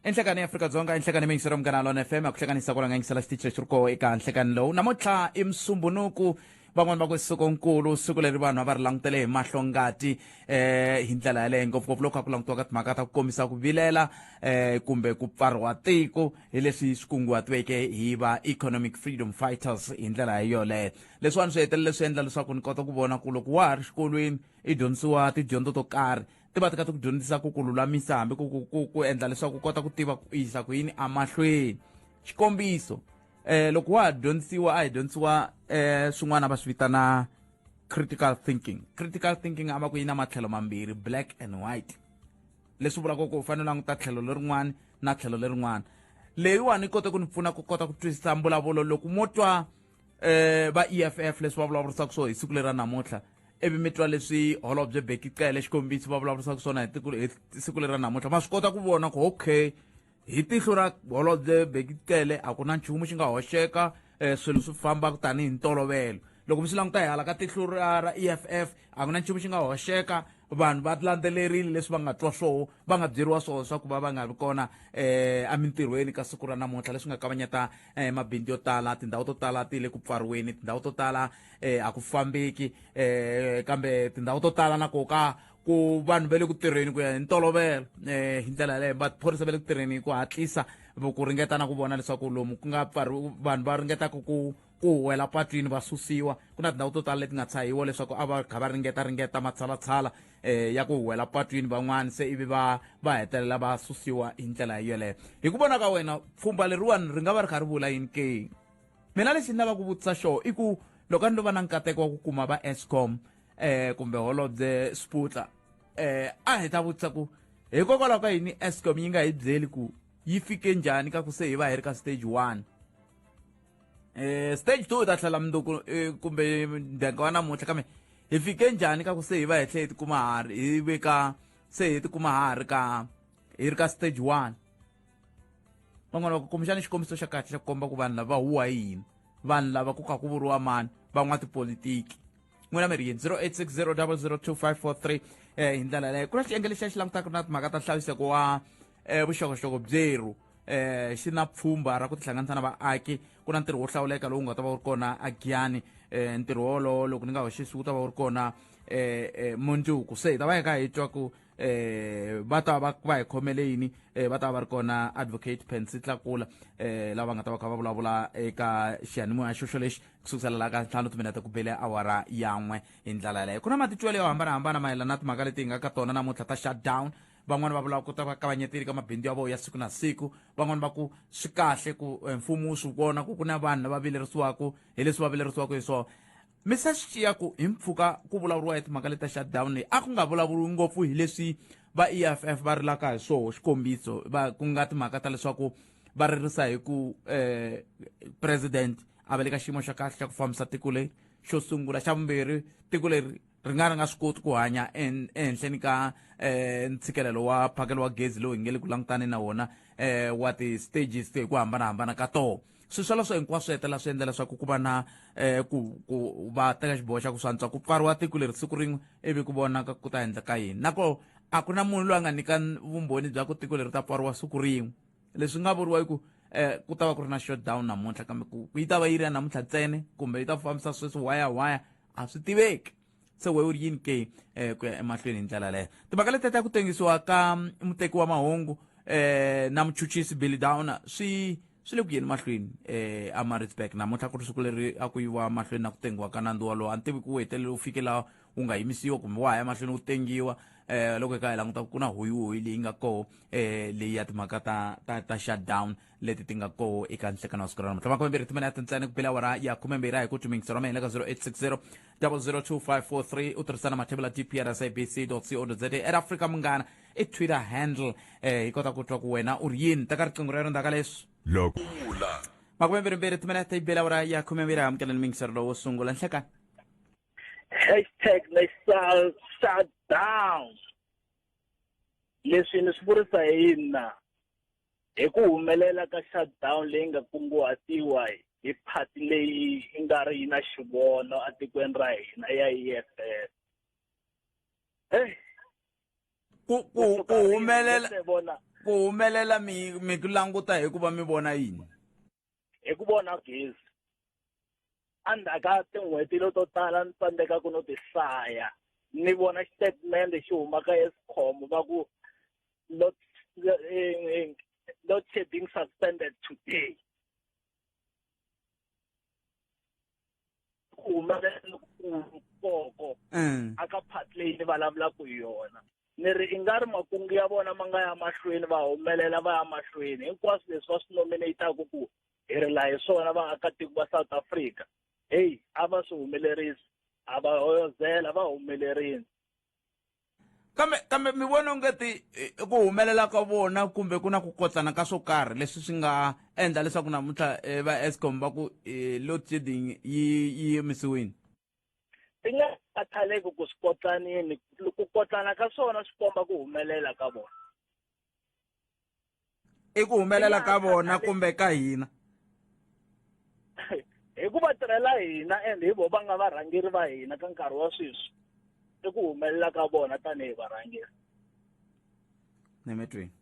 enhlekani ya afrika-dzonga enhlekani miyingiselo munghana lona fm a ku hlekanisa ku langa yingisela xitichi lexi ri koho eka nhlekani lowu namuntlha i musumbunuku van'wani va ku siku nkulu siku leri vanhu a va ri langutele hi mahlo ngati eh hi ndlela yaleyo ngopfungopfu loko a ku langutiwaka timhaka ta ku kombisa ku vilela eh kumbe ku pfariwa tiko hi leswi swi kunguhatiweke hi va economic freedom fighters hi ndlela yoleyo leswiwani swi hetelele swi endla leswaku ni kota ku vona ku loko wa ha ri xikolweni i dyondzisiwa tidyondzo to karhi ti va ti kha ti ku dyondzisa ku ku lulamisa hambi ku ku ku ku endla leswaku u kota ku tiva ku yisa ku yini emahlweni xikombiso eh loko wa ha dyondzisiwa a hi dyondzisiwa eh swin'wana va swi vitana critical thinking critical thinking a va ku yi na matlhelo mambirhi black and white leswi vulaka ku u fanele u languta tlhelo lerin'wana na tlhelo lerin'wana leyiwani yi kota ku ni pfuna ku kota ku twisisa mbulavulo loko mo twa eh va EFF leswi va vulavurisaka swona hi siku lera namuntlha ivi mi twa leswi holobye beki cele xikombiso va vulavurisaka swona hi tiko hi siku lera namuntlha ma swi kota ku vona ku okay hi tihlo ra holobye beki cele a ku na nchumu xi nga hoxeka um swilo swi famba tanihi ntolovelo loko mi swi languta hi hala ka tihlo ra ra EFF a ku na nchumu xi nga hoxeka vanhu va landzelerile leswi va nga twa swoho va nga byeriwa swoho swa ku va va nga vi kona um emintirhweni ka siku ra namuntlha leswi nga kavanyeta um mabindzu yo tala tindhawu to tala ti le ku pfariweni tindhawu to tala um a ku fambeki um kambe tindhawu to tala na ko ka ku vanhu va le ku tirheni ku ya hi ntolovelo um hi ndlela yaleyo maphorisa va le ku tirheni hi ku hatlisa ku ringeta na ku vona leswaku lomu ku nga pfariwi vanhu va ringetaka ku ku huwela patwini va susiwa ku na tindhawu to tala leti nga tshahiwa leswaku a va kha va ringeta ringeta matshalatshala um ya ku huwela patwini van'wani se ivi va va hetelela va susiwa hi ndlela yeleyo hi ku vona ka wena pfhumba leriwani ri nga va ri kha ri vula yini ke mina lexi ni lava ku vutisa xoho i ku loko a ni lo va na nkateko wa ku kuma va escom um eh, kumbe holobye sputla um eh, a hi ta vutisa ku hikokwalaho ka yini escom yi nga hi byeli ku yi fike njhani ka ku se hi va hi ri ka stage one eh stage two ta tlhela mundzuku eh, kumbe ndyangu wa namuntlha kambe hi fike njhani ka ku se hi va hi tlhe hi tikuma ha ri hi veka se hi tikuma ha ri ka hi ri ka stage one van'wana va ku kumbexana xikombiso xa kahle xa ku komba ku vanhu lava huwa hi yini vanhu lava ku kha ku vuriwa mani van'wa tipolitiki n'wina mi ri yini 0860 002 543 um hi ndlela leyo ku na xiyenge lexi a xi langutaka na timhaka ta nhlaviseko wa eh, vuxokoxoko byerhu eh xi na pfhumba ra ku tihlanganisa na vaaki ku na ntirho wo hlawuleka lowu nga ta va wu ri kona a giyani eh ntirho wolowo loko ni nga hoxisi wu ta va wu ri kona eh, eh mundzuku se hi ta va hi ka hi twa ku eh va ta va va hi khomele yini eh va ta va ri kona advocate Pansy Tlakula eh lava nga ta va kha va vulavula eka xiyanimoya xoxo lexi kusukusela la ka ntlhanu timinete ku bele awara yan'we hi ndlela yaleyo ku na matitwelo yo hambanahambana mayelana na timhaka leti hi nga ka tona namuntlha ta shutdown van'wani va vulaka ku ta va kavanyeteli ka mabindzu ya vona ya siku na siku van'wani va ku swi kahle ku eh, mfumo wu swi vona ku ku na vanhu lava vilerisiwaka hi leswi va vilerisiwaka hi swona mi sa swi xiya ku hi mpfuka ku vulavuriwa hi timhaka leta shutdown leyi a ku nga vulavuriwi ngopfu hi leswi va eff va rilaka hi swoho xikombiso va ku nga timhaka ta leswaku va ririsa hi ku eh president a va le ka xiyimo xa kahle xa ku fambisa tiko leri xo sungula xa vumbirhi tiko leri ri nga ri nga swi koti ku hanya ehenhleni ka um ntshikelelo wa phakelo wa gezi lowu hi nge le ku langutane na wona um wa ti-stages to hi ku hambanahambana ka toho swilo swoleswo hinkwaswo hetelela swi endla leswaku ku va na um ku ku va teka xiboho xa ku swantswa ku pfariwa tiko leri siku rin'we ivi ku vonaka ku ta endleka yini nako a ku na munhu loyi a nga nyika vumbhoni bya ku tiko leri ta pfariwa siku rin'we leswi nga vuriwa i ku eh ku ta va ku ri na shutdown namuntlha kambe ku yi ta va yi ri ya namuntlha ntsene kumbe yi ta fambisa sweswi waya waya a swi tiveki se we u ri yini ke um ku ya emahlweni hi ndlela leyo timhaka leti ta ku tengisiwa ka mm, muteki wa mahungu um na muchuchisi billy downer swi swi le ku yeni mahlweni um amaritzburg namuntlha ku ri siku leri a ku yiwa mahlweni na ku tengiwa ka nandzu walowo a ni tivi ku wu hetelele wu fike laha wu nga yimisiwa kumbe wa ha ya mahlweni wu tengiwa um loko hi ka hi languta ku na hoyihoyi leyi nga koho um leyi ya timhaka ta ta ta shutdown leti ti nga koho eka nhlekano wa siku ra namuntlha makhume mbirhi timinete ntsena ku bela wara ya khume mbirhi a hi ku twimingisa ra mina ka 0860 002543 u tirhisana mathebula dpr sabc co za at africa munghana i twitter handle eh hi kota ku twa ku wena u ri yini teka riqingho rero ndzaka leswi loko makhume mbirhi mbirhi timinete yi bela wara ya khume mbirhi amukelani mingisero lowo sungula nhlekani hashtag missile shutdown leswi ni swi vurisa hi yini na Hi ku humelela ka shutdown leyi nga kunguhatiwa hi phati leyi yi nga ri yi na xivono etikweni ra hina ya EFF. Hey, ku ku ku kusuka rin'we humelela se vona ku humelela mi mi ku languta hikuva mi vona yini hi ku vona gezi endzhaku ka tin'hweti leto tala ni tsandzeka ku no ti hlaya ni vona xitatimende xi humaka escom va ku load shedding suspended today ku humelela lokukulu koko mm. a ka part leyi ni vulavulaka hi yona ni ri i nga ri makungu ya vona ma nga ya mahlweni va humelela va ya mahlweni hinkwaswo leswi va swi nominataku ku hi ri laha hi swona vaakatiko va south africa heyi a va swi humelerisi a va hoyozela va humelerini kambe kambe mi vona ongeti eh, ku humelela ka vona kumbe ku na ku kotsana ka swo karhi leswi swi nga endla leswaku namuntlha eh, va escom va ku eh, load shedding yi yi yimisiwile ti nga khathaleki ku swi kotlanini ku kotlana ka swona swi komba ku humelela ka vona i ku humelela ka vona kumbe ka hina hi ku va tirhela hina and hi vo va nga varhangeri va hina ka nkarhi wa sweswi i ku humelela ka vona tanihi varhangeri ni mi twini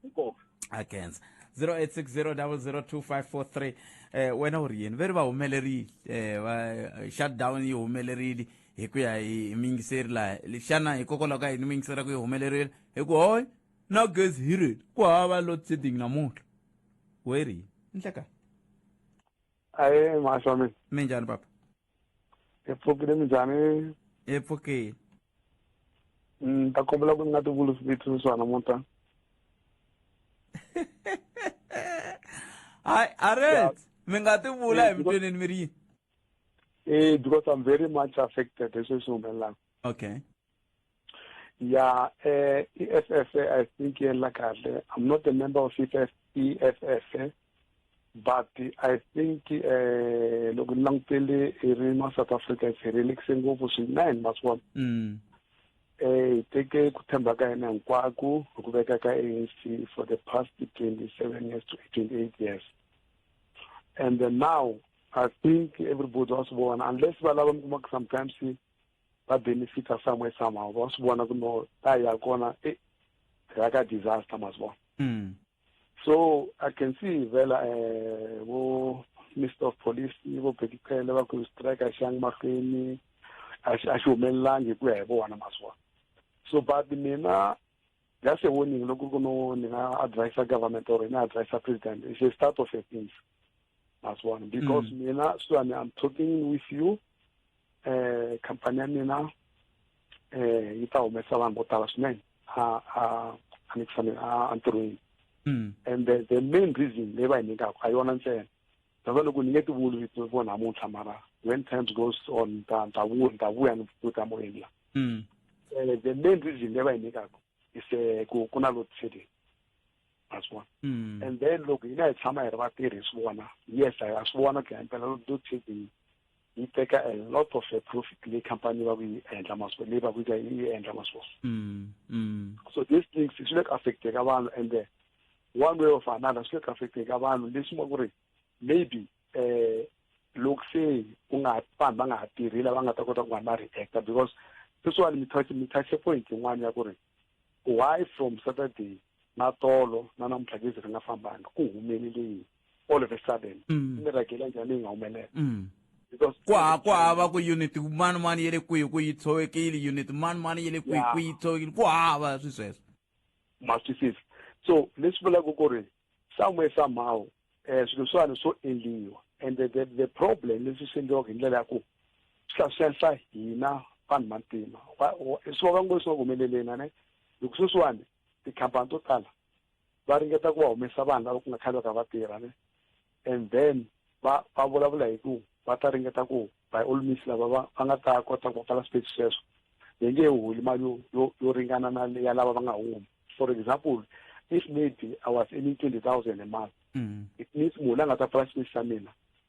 inkomu a kenza 0860002543 eh wena u ri yini ve ri va humelerile eh va shutdown yi humelerile hi ku ya hi miyingiseri laha xana hikokwalaho ka yini miyingiseri ya ku yi humelerile hi ku hoy na gezi hi ri ku hava load setting namuntlha weri ndleka ayi mahlo mina mi njhani papa hi pfukile mi njhani hi pfukile ni mm, ta kombela ku ni nga tivulisi vito swa namuntlha hayi aret mi nga ti vula hi mitweneni mi ri yini eh because i'm very much affected hi sweswi humelelaka okay ya eh i-EFF i think yela kahle i'm not a member of EFF EFF but i think eh loko ni langutele i ri ma south africa hi rilekise ngopfu swinene masiwana mm. eh hi teke ku tshemba ka yena hinkwako hi ku veka ka anc for the past 27 years to 28 years and then now i think everybody was born unless va lava mi kuma sometimes va benefita somewhere somehow va swi vona ku no ta ya kona e ra ka disaster ma swi vona mm. so i can see vela um vo minister of police vo bekiphele va ku strike a xi yangi mahlweni a xi humelelangi hi ku ya hi vona ma swi vona so but mina just a warning loko ku no ni nga advisa government or ni advisa president it's a start of a things as one because mm. mina swani i'm talking with you eh khampani ya mina eh yi ta humesa vanhu vo tala swinene a a a ni kufanele a ntirhweni hmm. and the, the main reason leyi va hi nyikaka a yona ntsena that's loko ni nge ti vuli vito vo namuntlha mara when times goes on ta ta vuya ta vuya ni vuta moyeni la hmm. eh, the main reason leyi va hi nyikaka is eh, ku ku na load shedding that's one hmm. and then loko hina hi tshama hi ri vatirhi hi swi vona yes hi swi vona ku ya impela load shedding yi teka a lot of a profit leyi company va ku yi endla masiku leyi va ku yi endla masiku mm, mm. so these things swi le ku affecteka vanhu and then one way of another swi le ku affecteka vanhu leswi nga ku ri maybe um loko se u nga vanhu va nga ha tirhi lava nga ta kota ku vanhu va reacta because this one mi touch mi touch point yin'wana ya ku ri why from saturday na tolo na namuntlha gezi ri nga fambanga ku humelele yini all of a sudden mm. ni rhagela njhani yi nga humelela mm. ku ha ku hava ku unit mani mani ya le kwihi ku yi tshovekile unit mani mani ya le kwihi ku yi tshovekile ku hava swi sweswo ma twisisa so leswi vulaka ku ri somewhere somehow um swilo swani swo endliwa and the, the, the problem leswi swi endliwaka hi ndlela ya ku swi hlaselisa hina vanhu vantima swi vaka ngo swi nga ku humeleleni ane hi ku sweswiwani tikhampani to tala va ringeta ku va humesa vanhu lava ku nga khale va ka va tirha ne and then va va vulavula hi ku va ta ringeta ku by all means lava va va nga ta kota ku pfala space sweswo hi nge holi mali yo yo yo ringana na ya lava va nga humi for example if maybe i was earning twenty thousand a month mm. it means munhu la nga ta pfala space xa mina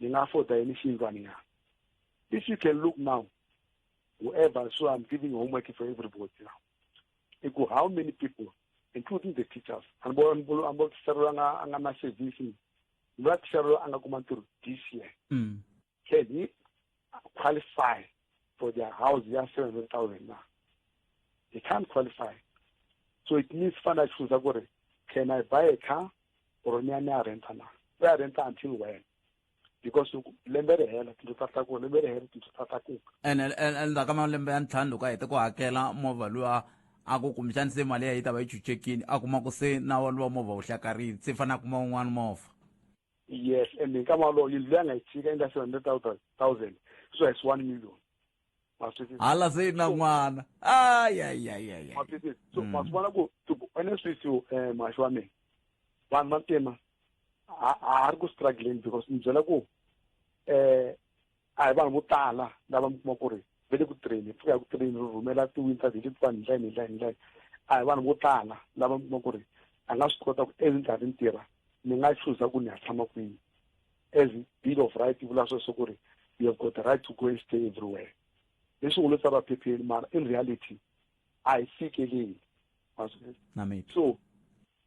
ni nga afford-a yini xiyindlwani ya if you can look now whoever so i'm giving homework for everybody now i ku how many people including the teachers anbo teacher loyi a nga na service loyi a teacher loyi a nga kuma ntirho this year mm. can he qualify for their house ya 700,000 na he can't qualify so it means fana choose gore can i buy a car or ni ani a renta na we a renta until when because lembe ri hela tindlu ta tlakuka lembe ri hela tindlu ta tlakuka ene endzhaku ka malembe ya ntlhanu loko a hete ku hakela movha luwa a ku kumbexani se mali ya yi ta va yi chuchekini a kuma ku se na walowa movha wu hlakarini se fanele a kuma wun'wana movha yes and hi nkama wolowo yindlu leyi a nga yi tshika yi nga seven hundred thousand thousand sweswo hi swi one million ma swi twisisa hala se na n'wana ayayayaya ma swi twisisa so ma swi vona ku tiku ene swisi um maxi wa mina vanhu va ntima a a ri ku struggleni because ni byela ku um a hi vanhu vo tala lava mi kuma ku ri ve le ku tirheni pfuka ya ku tirheni ri rhumela tiwinta hi letiwani ndlela ni ndlela ni ndlela a hi vanhu vo tala lava mi kuma ku ri a nga swi kota ku as ni karhi ni tirha ni nga chuza ku ni ya tshama kwini as bill of right yi vula sweswo ku ri you have got the right to go and stay everywhere leswi ngo lo tsariwa phepheni mara in reality a hi fikeleli so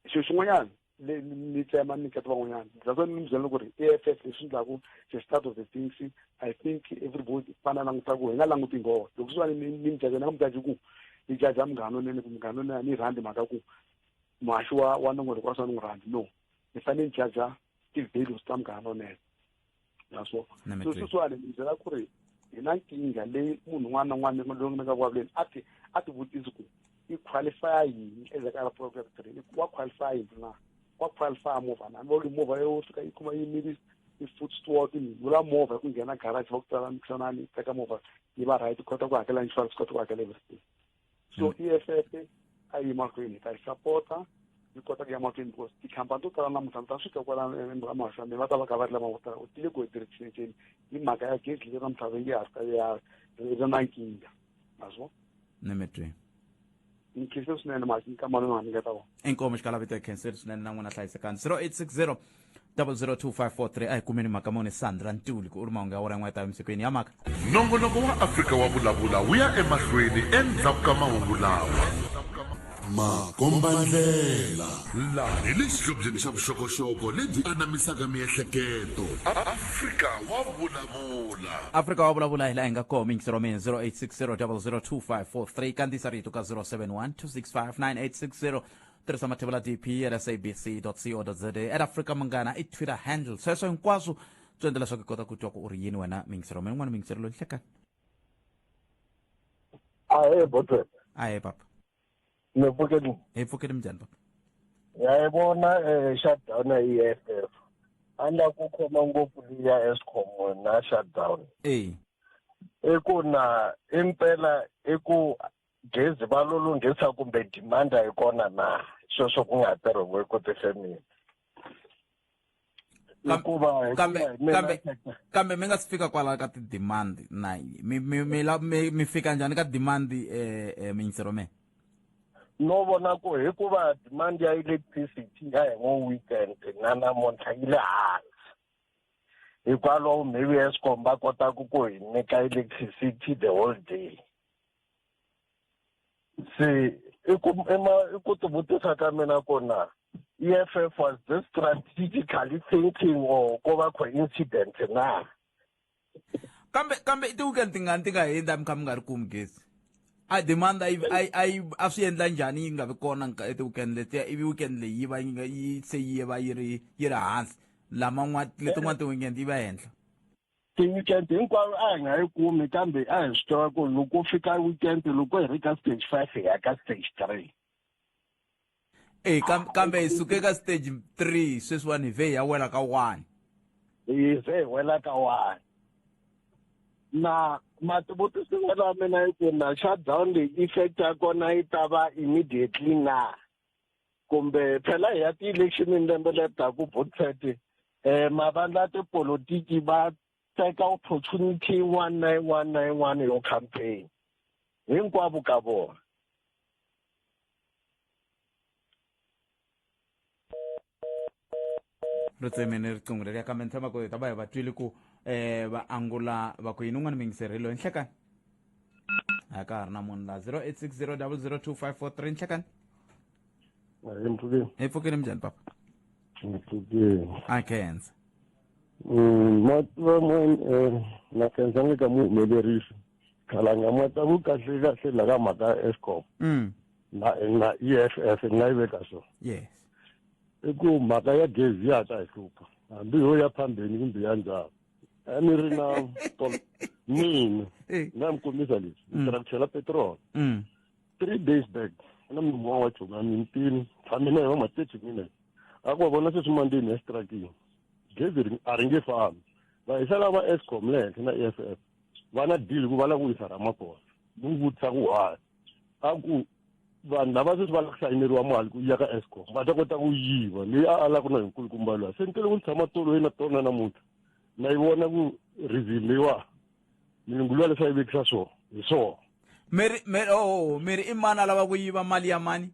xilo xin'wanyana leyi ni tsema ni nyiketa van'wanyana that's why ni byela ku ri e f f leswi endlaku the start of the things i think everybody fana languta ku hi nga languti ngoho loko swi va ni ni mjaja ni nga mjaji ku ni jaja munghana lonene ku munghana lonene a ni rhandi mhaka ku muhaxi wa wa nongonoko wa swa ni n'wi rhandi no ni fanele ni jaja ti-values ta munghana lonene ya so so sweswiwani ni byela ku ri hi na nkingha leyi munhu un'wana na un'wana loyi mi nga vulavuleni a ti a ti vutisi ku i qualify yini endzhaku ka program three wa qualify yini na wa qualify movha na va movha yo fika yi kuma yi miri i foot steward ni vula movha ku nghena garage va ku tsala mikhanani teka movha yi va right kota ku hakela insurance kota ku hakela everything so mm. eff a yi mahlweni ta yi sapota yi kota ku ya mahlweni because tikhampani to tala namuntlha mi ta swi twa kwala emahlameni va ta va ka va ri lava votala u tile ku heterekiseceni hi mhaka ya gezi leyi ramhlabeni ya ha ri ya ri na nkingha maswo ni mi twi ni khense swinene masi ni ka mali ni nga ni nga ta vona inkomo xikalavito hi khenseri swinene na n'wina hlayisekani 0860 002543 a hi kumeni mhaka mone sandra ntuli ku u ri mahungu ya wora yin'wana ta emisikwini ya mhaka nongonoko wa afrika wa vulavula wu ya emahlweni endzhaku ka mahungu lawa makombandlela laha hi le xihlobyeni xa vuxokoxoko lebyi anamisaka miehleketo afrika wa vulavula afrika wa vulavula hi laha hi nga koho mingisero mina 0860 002 543 kandziyisa rito ka 071 265 9860 tirhisa mathevula dpr sabc co za at africa munghana i twitter handle sweswo hinkwaswo swi endla leswaku i kota ku twa ku u ri yini wena mingisero ma yin'wana mingisero loyi hlekani ahe botwe ahe papa ni pfukeni hi pfukeni minjhani papa yayibona um eh, shutdown yi f f a ni la ku khoma ngopfu liya escom na shutdown e i ku na impela i ku gezi va lo lunghisa kumbe dimanda yi kona na sweswo ku nga tirhiwe ku tifemini kambe mi nga si fika kwala ka ti-demand na mi mi mi mi mi fika njhani ka demand um eh, eh, minyisero me no vona ku hikuva demand ya electricity ya hi ngo weekend na namuntlha yi le hansi hikwalaho maybe escom va kotaka ku hi nyika electricity the whole day se i ku i ku ti vutisa ka mina ku na EFF was this strategically thinking or ko va coincident na kambe kambe i ti-weekend tingani ti nga hindza mi kha mi nga ri kumi gezi a demand a yi a swi endla njhani yi nga vi kona ti-weekend letiya ivi weekend leyi yi va yi nga yi se yi va yi ri yi ri hansi laman'wana letin'wana ti-weekend yi va henhla ti-weekend hinkwaro a hi nga yi kumi kambe a hi swi tiva ku loko fika weekend loko hi ri ka stage five hi ya ka stage three e kambe hi suke ka stage three sweswiwani hi vhe hi ya wela ka one hi vhe hi wela ka one na mativutiso n'wana wa mina yi ku na shutdown leyi effect ya kona yi ta va immediately na kumbe phela hi ya ti-electionini lembe leri taku botsat um eh, mavandla ya tipolotiki va teka opportunity yin'wana na yin'wana na yin'wana yo campaign hinkwavo ka vona ri tsemene riqingho leri ya kambe ni tshama ku hi ta va hi va twile ku um va angula va ku yini un'wana mingiseri loyi nhlekani a ka ha ri na munhu la zero eight six zero double zero two five four three nhlekani hi mpfukeni hi pfukile minjhani papa mpfukeni a khensa mativa mwen na khensa nge ka muhumelerisi khalanga mwa ta ku kahle kahle la ka mhaka ya escom mm. na na EFF ni nga yi veka so yes i ku mhaka ya gezi ya ta hi hlupha hambi yo ya phambeni kumbe ya ndzhaku a ni ri na mina eh. nga mi kombisa leswi ni mm. tirha ku chela petrol mm. three days back na munhu un'wana wa chonga mintini tshame na yona ma-thirty minutes a ku va vona sweswi mandini ya xitrakini gezi a ri nge fambi va hi sala va escom le henhla na e f f va na deal ku va lava ku yisa ramagosa ni n'wi vutisa ku why a ku vanhu lava sweswi va lava ku sayineriwa mali ku ya ka escom va ta kota ku yiva leyi a alaka na hinkulukumba luwa se ni tele ku ni tshama tolo yena tona namuntlha na yi vona ku reason leyiwa milungu luwa leswi a yi vekisa swona hi swona miri miri oh miri i mani a lava ku yiva mali ya mani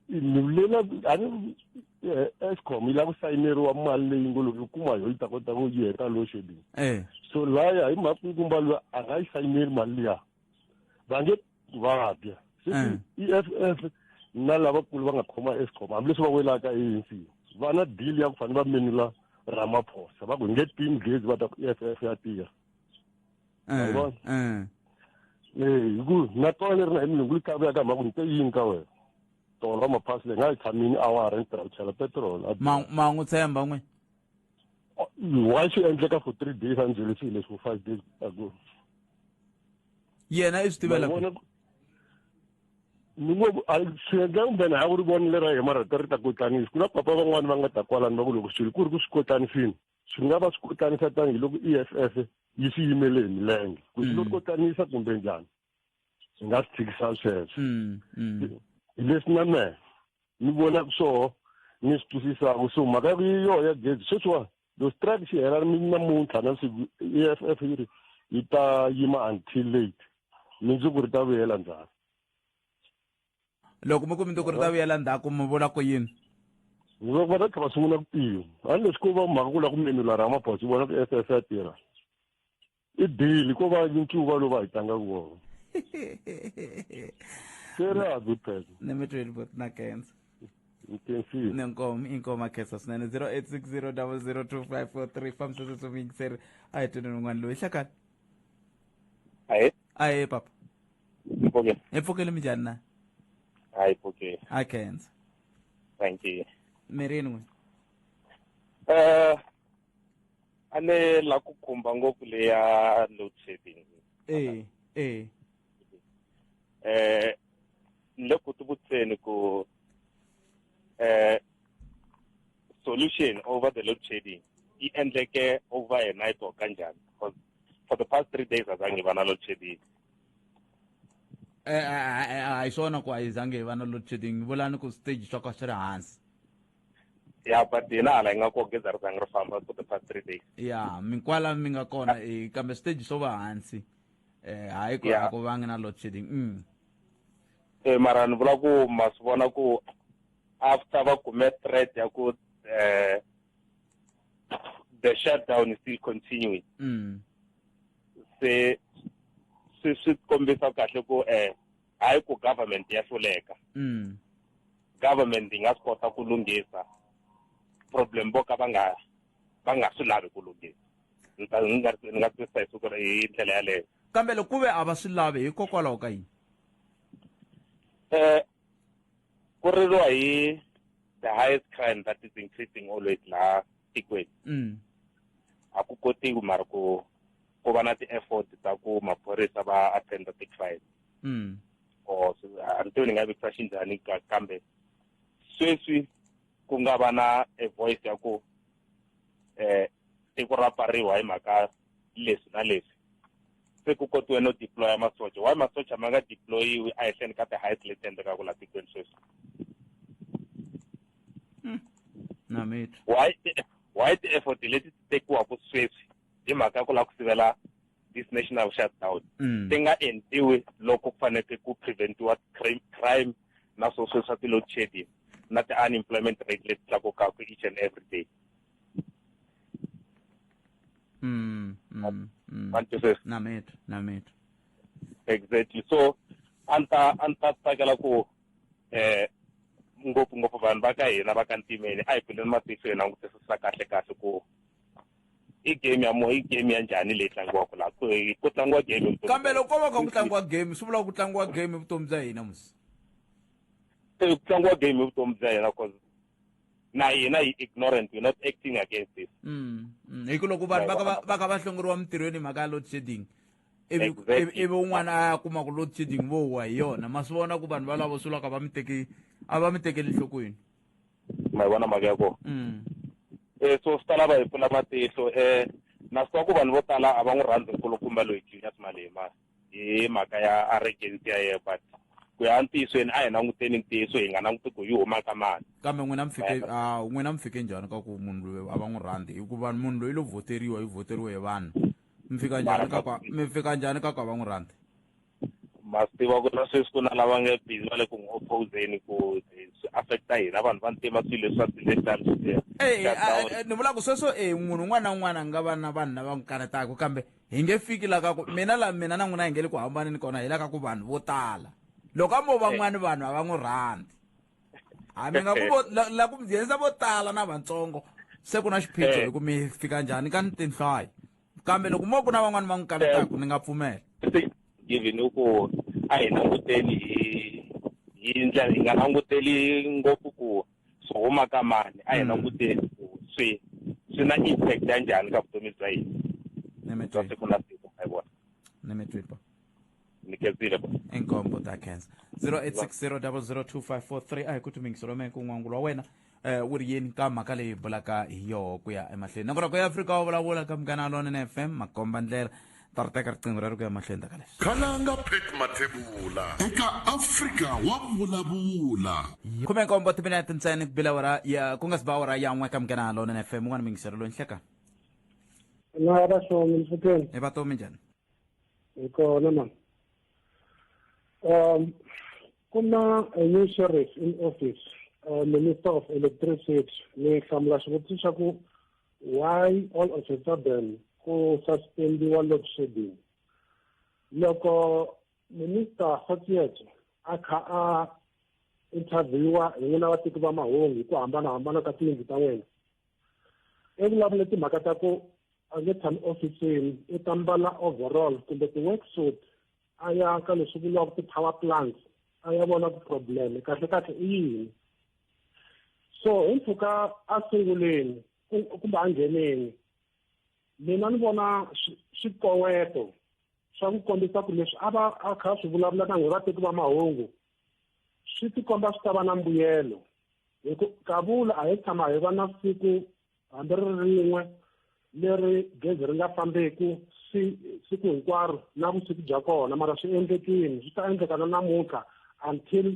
ni vulela a ni eh, escom yi lava ku sayineriwa mali leyi ngo loko yi kuma yo yi ta kota ku yi heta load shedding eh so laya hi mhaka ku kumba loyi a nga yi sayineri mali liya va nge vabya se Mm. i eff na lavakulu va nga khoma escom hambileswi va welaka anc va na deal ya ku fanele va menula ramaphosa va ku hi nge tini gezi va ta ku eff ya tirha Eh, Yabona? eh. Eh, ku na tona leri na hi milungu yi kavuyaka mhaka ni te yini ka wena tolo ra maphasi leyi nga yi tshamini awara ni tirha ku chela petrol a- Ma- ma n'wi tshemba n'we why swi endleka for three days a ni byele swilo leswi for five days ago yena i swi tivela ku- Mavona- ni ngo a swi endla kumbe na ha ku ri vonile ra yena mara ta ri ta kotlanisi ku na papa van'wani va nga ta kwalani va ku loko swilo ku ri ku swi kotlanisini Swi nga va swi kotanisa tanihi loko EFF yi swi yimele hi milenge ku swi lo mm. kotanisa kumbe njhani swi nga swi tshikisa sweswo mm, mm. hi leswi na mehe ni vonaka swoho ni swi twisisaka so mhaka yi yoho ya gezi sweswiwa lo strike xi hela namuntlha na siku EFF yi ri yi ta yima until late mindzuku ri ta vuyela njhani loko mi ku mi tiko ri ta vuyela ndzhaku mi vula ku yini loko va ta tlhela va sungula ku tirha hambileswi ko va mhaka ku lava ku menula ramaphosa vona ku ss ya tirha i dili ko va ncuva lowu va hi tlangaka wona se ri a good person ni mi tweli bot na kensa intensive nenkomo inkomo akhesa swinene 0860 002543 fambisese swivuyingiseri a hi tweni un'wana loyi hlakani ahe ahe papa Ngiphoke. ephokele minjani na Hayi Phokile. a khenza Thank you. mirini n'we Eh a ni la ku khumba ngopfu leya load shedding. ee ee Eh ni le ku tivutiseni ku eh solution over the load shedding yi endleke over a night or kanjhani because for the past three days azange va na load shedding Eh, eh, eh, eh, a hi swona ku a yi zange hi va na load shedding vulani ku stage swa ka swi ri hansi ya but hina hala hi nga ko geza ri zange ri famba for the past three days ya minkwala mi nga kona eh, kambe stage swo va hansi eh hayi ku Yeah. a ku vangi na load shedding mm. Eh, mara ni vula ku ma swi vona ku after va kume threat ya ku eh, the shutdown is still continuing Mm. se swi swi kombisa kahle ku eh hayi ku government ya hluleka mm. government yi nga swi kota ku lunghisa problem vo ka va nga va nga swi lavi ku lunghisa ni ta ni nga ni nga twisisa hi siku hi ndlela yaleyo kambe loko ku ve a va swi lavi hikokwalaho ka yini um ku ririwa hi the highest crime that is increasing always laha tikweni mm. a ku kotiwi mara ku ku va na ti-effort ta ku maphorisa va attenda ti-crime mm. or a ni tivi ni nga vekisa xinjhani kambe sweswi ku nga va na a voice ya ku eh tiko ra pariwa hi mhaka leswi na leswi se ku kotiwe no deploya masocha why masocha ma nga deployiwi ehenhleni ka ti-height leti endlekaka laha tikweni sweswi hmm. why why ti-effort leti ti tekiwaka sweswi hi mhaka ku lava ku sivela this national shutdown hmm. ti nga endliwi loko ku faneke ku preventiwa crime na swo sweswa ti-load shedding na ti-unemployment rate leti tlakukaka each and every day Mm, mm, mm. Thank you, sis. na metu na metu exactly so a ni ta a ni ta tsakela ku eh ngopfungopfu vanhu va ka hina va ka ntimeni a hi pfuleni matihlo hi langutisisa kahle kahle ku i game ya mo i game ya njhani leyi tlangiwaka laha ku ku tlangiwa game evuton'wini. kambe loko ko va kha ku tlangiwa game swi vula ku tlangiwa game evutomi bya hina musi Eh, ku tlangiwa game evutomi bya hina cause na hina hi ignorant we're not acting against this mm, mm. hi ku loko vanhu va ka va- va ka va hlongoriwa mintirhweni hi mhaka ya load shedding ivi Exactly. ivi- ivi un'wana a ya kuma ku load shedding vo huwa hi yona ma swi vona ku vanhu valavo swi laka va mi teki a va mi tekeli nhlokweni ma yi vona mhaka ya kona Mm, eh so swi ta lava hi pfula matihlo eh na swi tiva ku vanhu vo tala a va n'wi rhandzi nkulukumba loyi junior simalema hi mhaka ya arrogance ya yena but ku ya ntiyisweni a hi languteni ntiyiso hi nga languti ku yi huma ka mani kambe n'wina mi fike a n'wina mi fike njhani ka ku munhu loyi a va n'wi rhandzi hikuva munhu loyi lo voteriwa yi voteriwe hi vanhu mi fika njhani ka kwa mi fika njhani ka kwa va n'wi rhandzi ma swi tiva ku na sweswi ku na lava nge busy va le ku n'wi opposeni ku swi affecta hina vanhu va ntima swilo leswi va swi leswiani swi ni vula ku sweswo e munhu un'wana na un'wana a nga va na vanhu lava n'wi kanetaka kambe hi nge fiki la ka ku mina la mina na n'wina hi nge le ku hambaneni kona hi la ka ku vanhu vo tala loko a mo van'wani eh. vanhu a va n'wi rhandzi hambi nga ku la ku mbyendza vo tala na vatsongo se ku na xiphiqo eh. hi ku mi fika njhani ka ni tinhlayo kambe loko mo ku na van'wani va n'wi kaletaku ni nga pfumela given ku a hi languteli hi hi ndlela hi nga languteli ngopfu ku swi huma ka mani a hi mm. languteni ku swi swi na impact ya njhani ka vutomi bya hina bya siku na siku ma yi vona ni mi twi bo ni kenzile bo inkombo ta khensa 0860002543 a hi ku tumingiso lome ku n'wangu lwa wena um wu ri yini ka mhaka leyi bulaka hi yoho ku ya emahlweni nongonoko ya afrika wu vulavula ka munghana lone na fm makomba ndlela ta ri teka riqingho ra ri ku ya mahlweni ta ka leswi khalanga pet mathebula eka afrika wa vulavula khume nkombo timinete ntsena ku bila wara ya ku nga si ba wara ya n'we ka munghana lona na fm un'wana mingisero loyi nhleka na ya vasomi mfuteni e vatomi njhani hi kona ma um ku na a new sheriff in office uh, minister of electricity ni hlamula xivutiso xa ku Why all of a sudden ku suspendiwa load shedding? Loko Minister Kgotso a kha a interviewa hi n'wina vateki va mahungu hi ku hambanahambana ka tiyindlu ta wena i vulavule timhaka ta ku a nge tshami ofisini i ta mbala overall kumbe ti-work suit a ya ka leswi vuriwaka ti-power plants a ya vona ku problem kahle kahle i yini so hi mpfhuka a sunguleni kumbe a ngheneni mina ni vona swikoweto swa ku kombisa ku leswi a va a kha swi vulavula na n'we vateki va mahungu swi tikomba swi ta va na mbuyelo hi ku kavula a hi tshama hi va na siku hambi ri rin'we leri gezi ri nga fambeki si siku hinkwaro na vusiku bya kona mara swi endlekile swi ta endleka na namuntlha until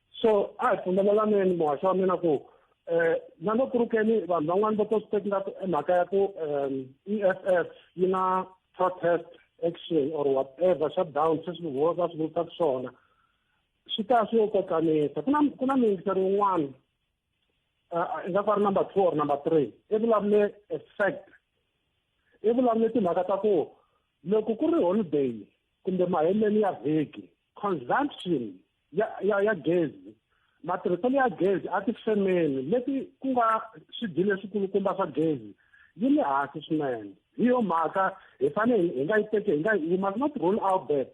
so a hi pfumelelaneni muhaxi wa mina ku um na loko ri keni vanhu van'wani va to swi teki ngaku i mhaka ya ku um e f f yi na protest action or whatever shutdown se swi va swi vulisa ku swona swi ta swi yo kokanisa ku na ku na miyingiseri wun'wana i nga ku ri number two or number three i vulavule effect i vulavule timhaka ta ku loko ku ri holiday kumbe maheleni ya vhiki consumption ya ya ya gezi matirhiselo ya gezi etifemeni leti ku nga swidyi leswikulukumba swa gezi yi le hansi swinene hi yo mhaka hi fanele hi nga yi teki hi nga yi must not rule out that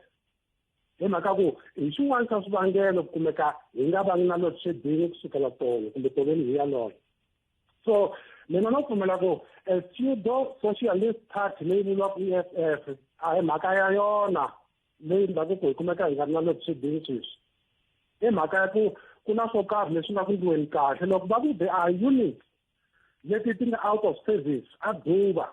hi mhaka ku hi xin'wana xa swivangelo ku kumeka hi nga vangi na load shedding ku sukela tolo kumbe toveni hi yaloyo so mina no pfumela ku a pseudo socialist party leyi vuriwaka e f f a hi mhaka ya yona leyi ndhavuko hi kumeka hi nga ri na le vuswidini sweswi i mhaka ya ku ku na swo karhi leswi nga ku ndliweni kahle loko va ku there are units leti ti nga out of service a duva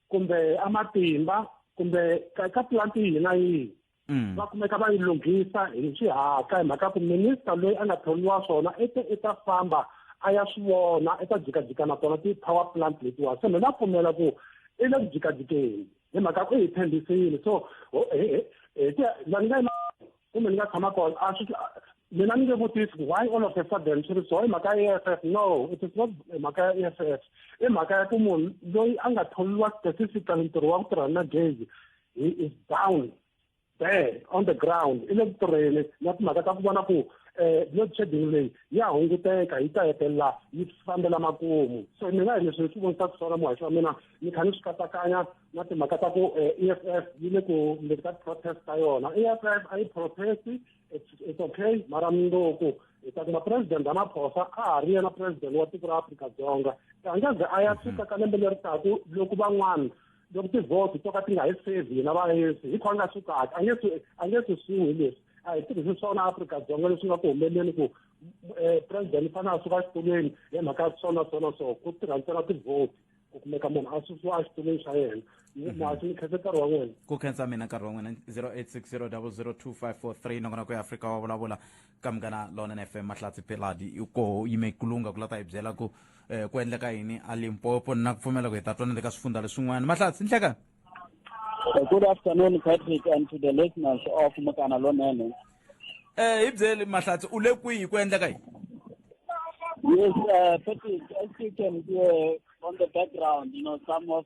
kumbe amatimba kumbe ka plant yihi na yihi mm. va kumeka va yi lunghisa hi xihatla hi mhaka ku minista loyi a nga thoriwa swona i te i ta famba a ya swi vona i ta jikajika na tona ti-power plant letiwa se mina pfumela ku i le ku jikajikeni hi mhaka ku hi tshembisile so la ni nga kumbe ni nga tshama kona a swi mina ni nge vutisi ku why all of a sudden swi ri so i mhaka ya e f no it is not mhaka ya e f f i mhaka ya ku munhu loyi a nga tholiwa specifically ntirho wa ku tirha na gezi he is down there on the ground i le ku tirheni na timhaka ta ku vona ku eh load shedding leyi ya hunguteka yi ta hetelela yi fambela makumu so ni nga hi leswi swi vonisa ku swona muhaxi wa mina ni kha ni swi katsakanya na timhaka ta ku eh, e f f yi le ku le ka protest ta yona e f f a yi protest it's okay mara mundzuku hi ta kuma president ramaphosa a ha ri yena president wa tiko ra afrika dzonga a nga ze a ya suka ka lembe leri taku loko van'wana loko tivote to ka ti nga hi sevi hina vaesi hi khona nga swi kahle a nge swi a nge swi swihi leswi a hi tirhisi swona afrika dzonga leswi nga ku humeleleni ku um president i fanele a suka exitulweni hi mhaka swona swona so ku tirha ntsena tivote ku kumeka munhu a susiwa exitulweni xa yena mhm. masi ni khensa nkarhi wa n'wina ku khensa mina nkarhi wa n'wina 086 0002543 nongonoko ya afrika wa vulavula ka munghana lona na fm mahlatsi peladi koho yime kulunga ku la ta hi byela ku um ku endleka yini a limpopo na ku pfumela ku hi ta twana le ka swifundza leswin'wana mahlatsi nhleka good afternoon patrick and to the listeners of mukana lonene um hi byeli mahlatsi u le kwihi ku endleka yini yes uh, patrick as you can hear on the background you know some of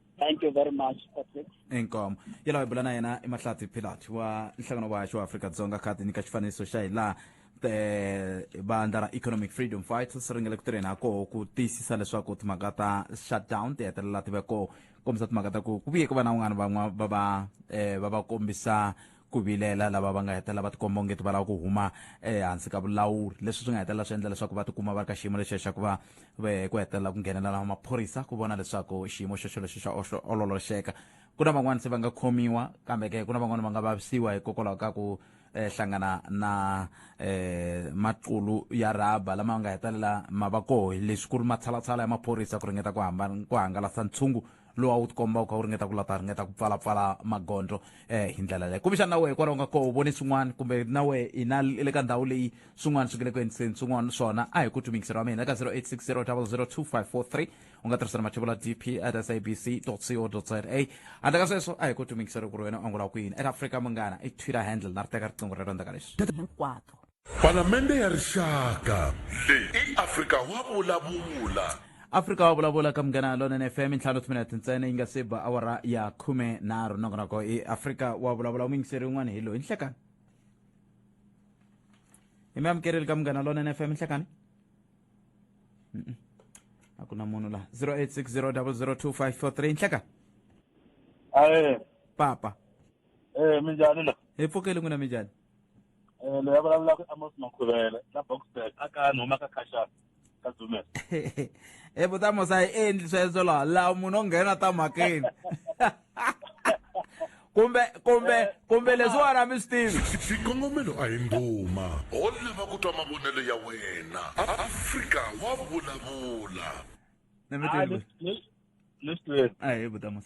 thank you very much patrick inkomo yi lava hi bula na yena i mahlati pilat wa nhlangano wa haxo wa afrika dzonga kha ti nyika xifaniso xa hi laha vandla ra economic freedom fighters ri nga le ku tirheni ha koho ku tiyisisa leswaku timhaka ta shutdown ti hetelela ti ve koho kombisa timhaka ta ku ku vuye ku va na un'wana van'wa va va um va va kombisa ku vilela lava va nga hetelela va tikomba onge ti va lava ku huma ehansi ka vulawuri leswi swi nga hetelela swi endla leswaku va tikuma va ri ka xiyimo lexiya xa ku va ku hetelela ku nghenelela na maphorisa ku vona leswaku xiyimo xexo lexi xa ololoxeka ku na van'wani se va nga khomiwa kambe ke ku na van'wani va nga vavisiwa hikokwalaho ka ku eh, hlangana na eh, maqulu ya rhaba lama nga hetelela ma va koho leswi ku ri matshalatshala ya maphorisa ku ringeta ku hamba ku hangalasa ntshungu lowu a wu tikomba u kha u ringeta ku lata ringeta ku pfalapfala magondzo um hi ndlela leyo kumbexana na wehe hikwalaho nga koho u vone swin'wana kumbe na wehe hina le ka ndhawu leyi swin'wana swi nge le ku endliseni swin'wana swona a hi ku tumingiseriwa mina ka 0860002543 u nga tirhisa na mathevula dp at sabc co za handle ka sweswo a hi ku tumingiseriwa ku ri wena u angula ku yini at africa munghana i twitter handle na ri teka riqingho rero ndzaka leswi hinkwato Palamende ya Rixaka. Leyi i Afrika Wa Vulavula. Afrika Wa Vulavula ka Munghana Lonene FM ntlhanu timinete ntsena yi nga se ba awara ya khume nharhu nongonoko i Afrika Wa Vulavula muyingiseri un'wana hi loyi nhlekani hi mi amukereli ka Munghana Lonene FM nhlekani Mm-mm. a ku na munhu laha 0860002543 nhleka Aye, papa eh minjhani la? hi pfukeli n'wina minjhani Eh, loyi a vulavulaka i amos makhuvela la boxburg a ka ni huma ka khashana ka dzumela e vutamos a yi endli sweswo laha laha munhu o nghena ta mhakeni kumbe kumbe kumbe leswiwani a mi swi tivi xikongomelo a hi nduma ho lava ku twa mavonelo ya wena A- afrika wa vulavula ni mi Ah, tivi leswi- leswi- leswi tweke a hi vutamos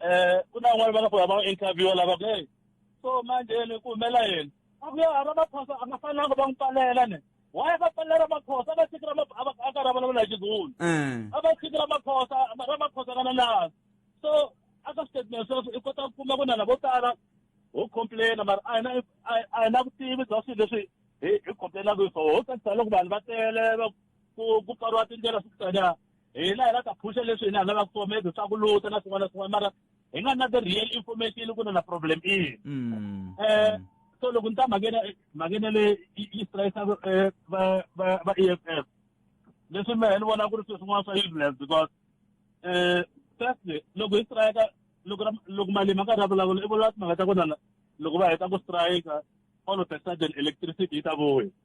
eh ku na n'wana va nga ku va interview lava ku hey so manje ni ku humela yini a ku ya hava maphosa a nga fanelanga va n'wi palela ne why va palela maphosa va tshiki a ka ra vulavula hi xizulu mm. a va tshiki ra maphosa ra maphosa kana laha so a ka statement sweswo i kota ku kuma ku na lavo tala ho complaina mara a hi na a hi na vutivi bya swilo leswi hi hi complainaka hi swona ho tsakisa loko vanhu va tele ku ku pfariwa tindlela swi ku tanyana hina hi la ta phusha leswi hina hi lavaka swona maybe swa ku luta na swin'wana na swin'wana mara hi nga na the real information ku na na problem ini um so loko ni ta mhakena mhakena le yi strayisa eh, va va va e f f leswi mehe ni vona ku ri swilo swin'wana swa useless because um firstly loko hi strayika loko loko malimi a karhi a vulavula i vulavula timhaka ta ku na loko va heta ku strayika all of a sudden electricity yi ta vuya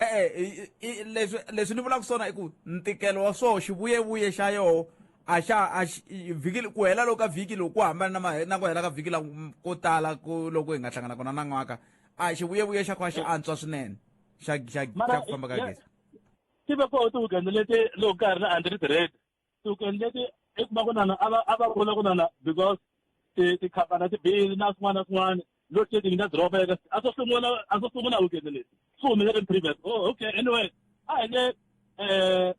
e-e leswi leswi ni vulaka swona i ku ntikelo wa swoho xivuyevuye xa yoho a xa a vhiki ku hela loko ka vhiki loko ku hambana na na ku hela ka vhiki la ko tala ku loko hi nga hlangana kona na n'waka a xivuyevuye xa kona xi antswa swinene xa xa xa ku famba ka gezi tive ko tiwugende leti loko ka ha ri na android red tiweekend leti i kuma ku nana a va a va vula ku nana because tikhampani tibili na swin'wana na swin'wana load shedding na doroba eka a swo sungula a swo sungula weekend leti swi humelele previous oh okay anyway a hi nge um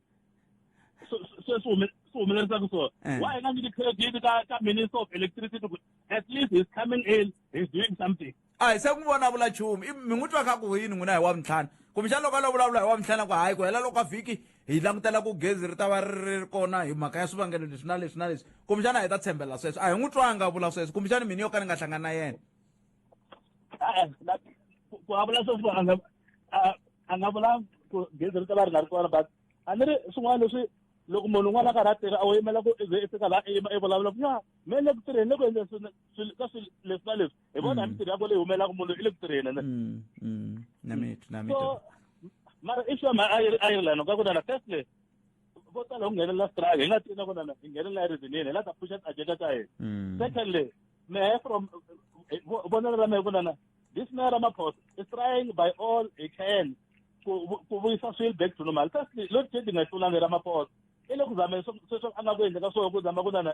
sweswi swi humelerisaka swona eh. why hi nga nyiki credit ka ka minister of electricity at least he's coming in he's doing something a hi se n'wi vona a vula nchumu i mi n'wi twa kha ku yini n'wina hi wa mintlhanu kumbexana loko a lo vulavula hi wa mintlhanu ku hayi ku hela loko a vhiki hi langutela ku gezi ri ta va ri ri kona hi mhaka ya swivangelo leswi na leswi na leswi kumbexana hi ta tshembela sweswo a hi n'wi twanga a vula sweswo kumbexana mini yo ka ni nga hlangani na yena ku a vula sweswo a nga a nga vula ku gezi ri ta va ri nga ri kona but a ni ri swin'wana leswi loko munhu un'wana a karhi a tirha a wu yimela ku ze i fika laha i yima i vulavula ku ya me le ku tirheni le ku endleni ka swilo leswi na leswi hi vona mm. mintirho ya ko leyi humelaka munhu i le ku tirheni ne mm, mm. na mitu na mitu so mara i sure ma ireland ka ku na na first place vo tala ku nghenelela strike hi nga tivi na ku na na hi nghenelela reason yini hi la ta pusha agenda ta hina mm. secondly mehe from eh, vonelo ra mehe ku na na this mayor ramaphosa is trying by all he can ku vuyisa swilo back to normal firstly load shedding ayihlulanga ramaphosa i le ku zameni sweswo a nga ku endleka swona ku zama ku na na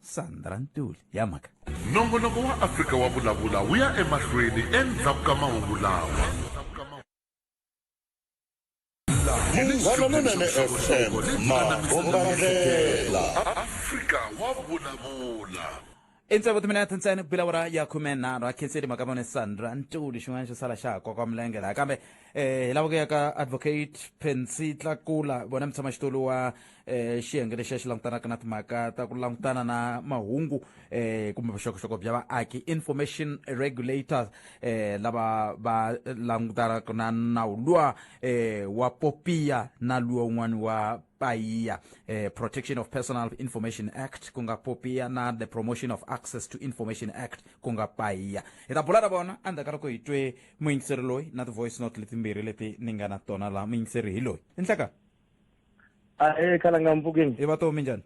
sandra ntuli ya mhaka nongonoko wa afrika wa vulavula wu ya emahlweni endzhaku ka mahungu lawa munghana lonene fm mabombandlela afrika wa vulavula endzhaku timina ya tintsene ku bilavura ya khume nharhu a khenseli mhaka vone sandra ntuli xin'wana xo sala xa ha koka milenge laha kambe um hi lava ku ya ka advocate pensi tlakula vona mutshamaxitulu wa eh xiyenge lexi xi langutanaka na timhaka ta ku langutana na mahungu eh kumbe vuxokoxoko bya vaaki information regulators eh lava va langutanaka na nawu luwa eh wa popiya na luwa un'wana wa payiya eh, protection of personal information act ku nga popiya na the promotion of access to information act ku nga payiya hi ta bula na vona endzhaku ka loko hi twe muyingiseri loyi na ti-voice note letimbirhi leti ni nga na tona laha muyingiseri hi loyi i nhleka a e khala nga mpfukeni i vatomi njhani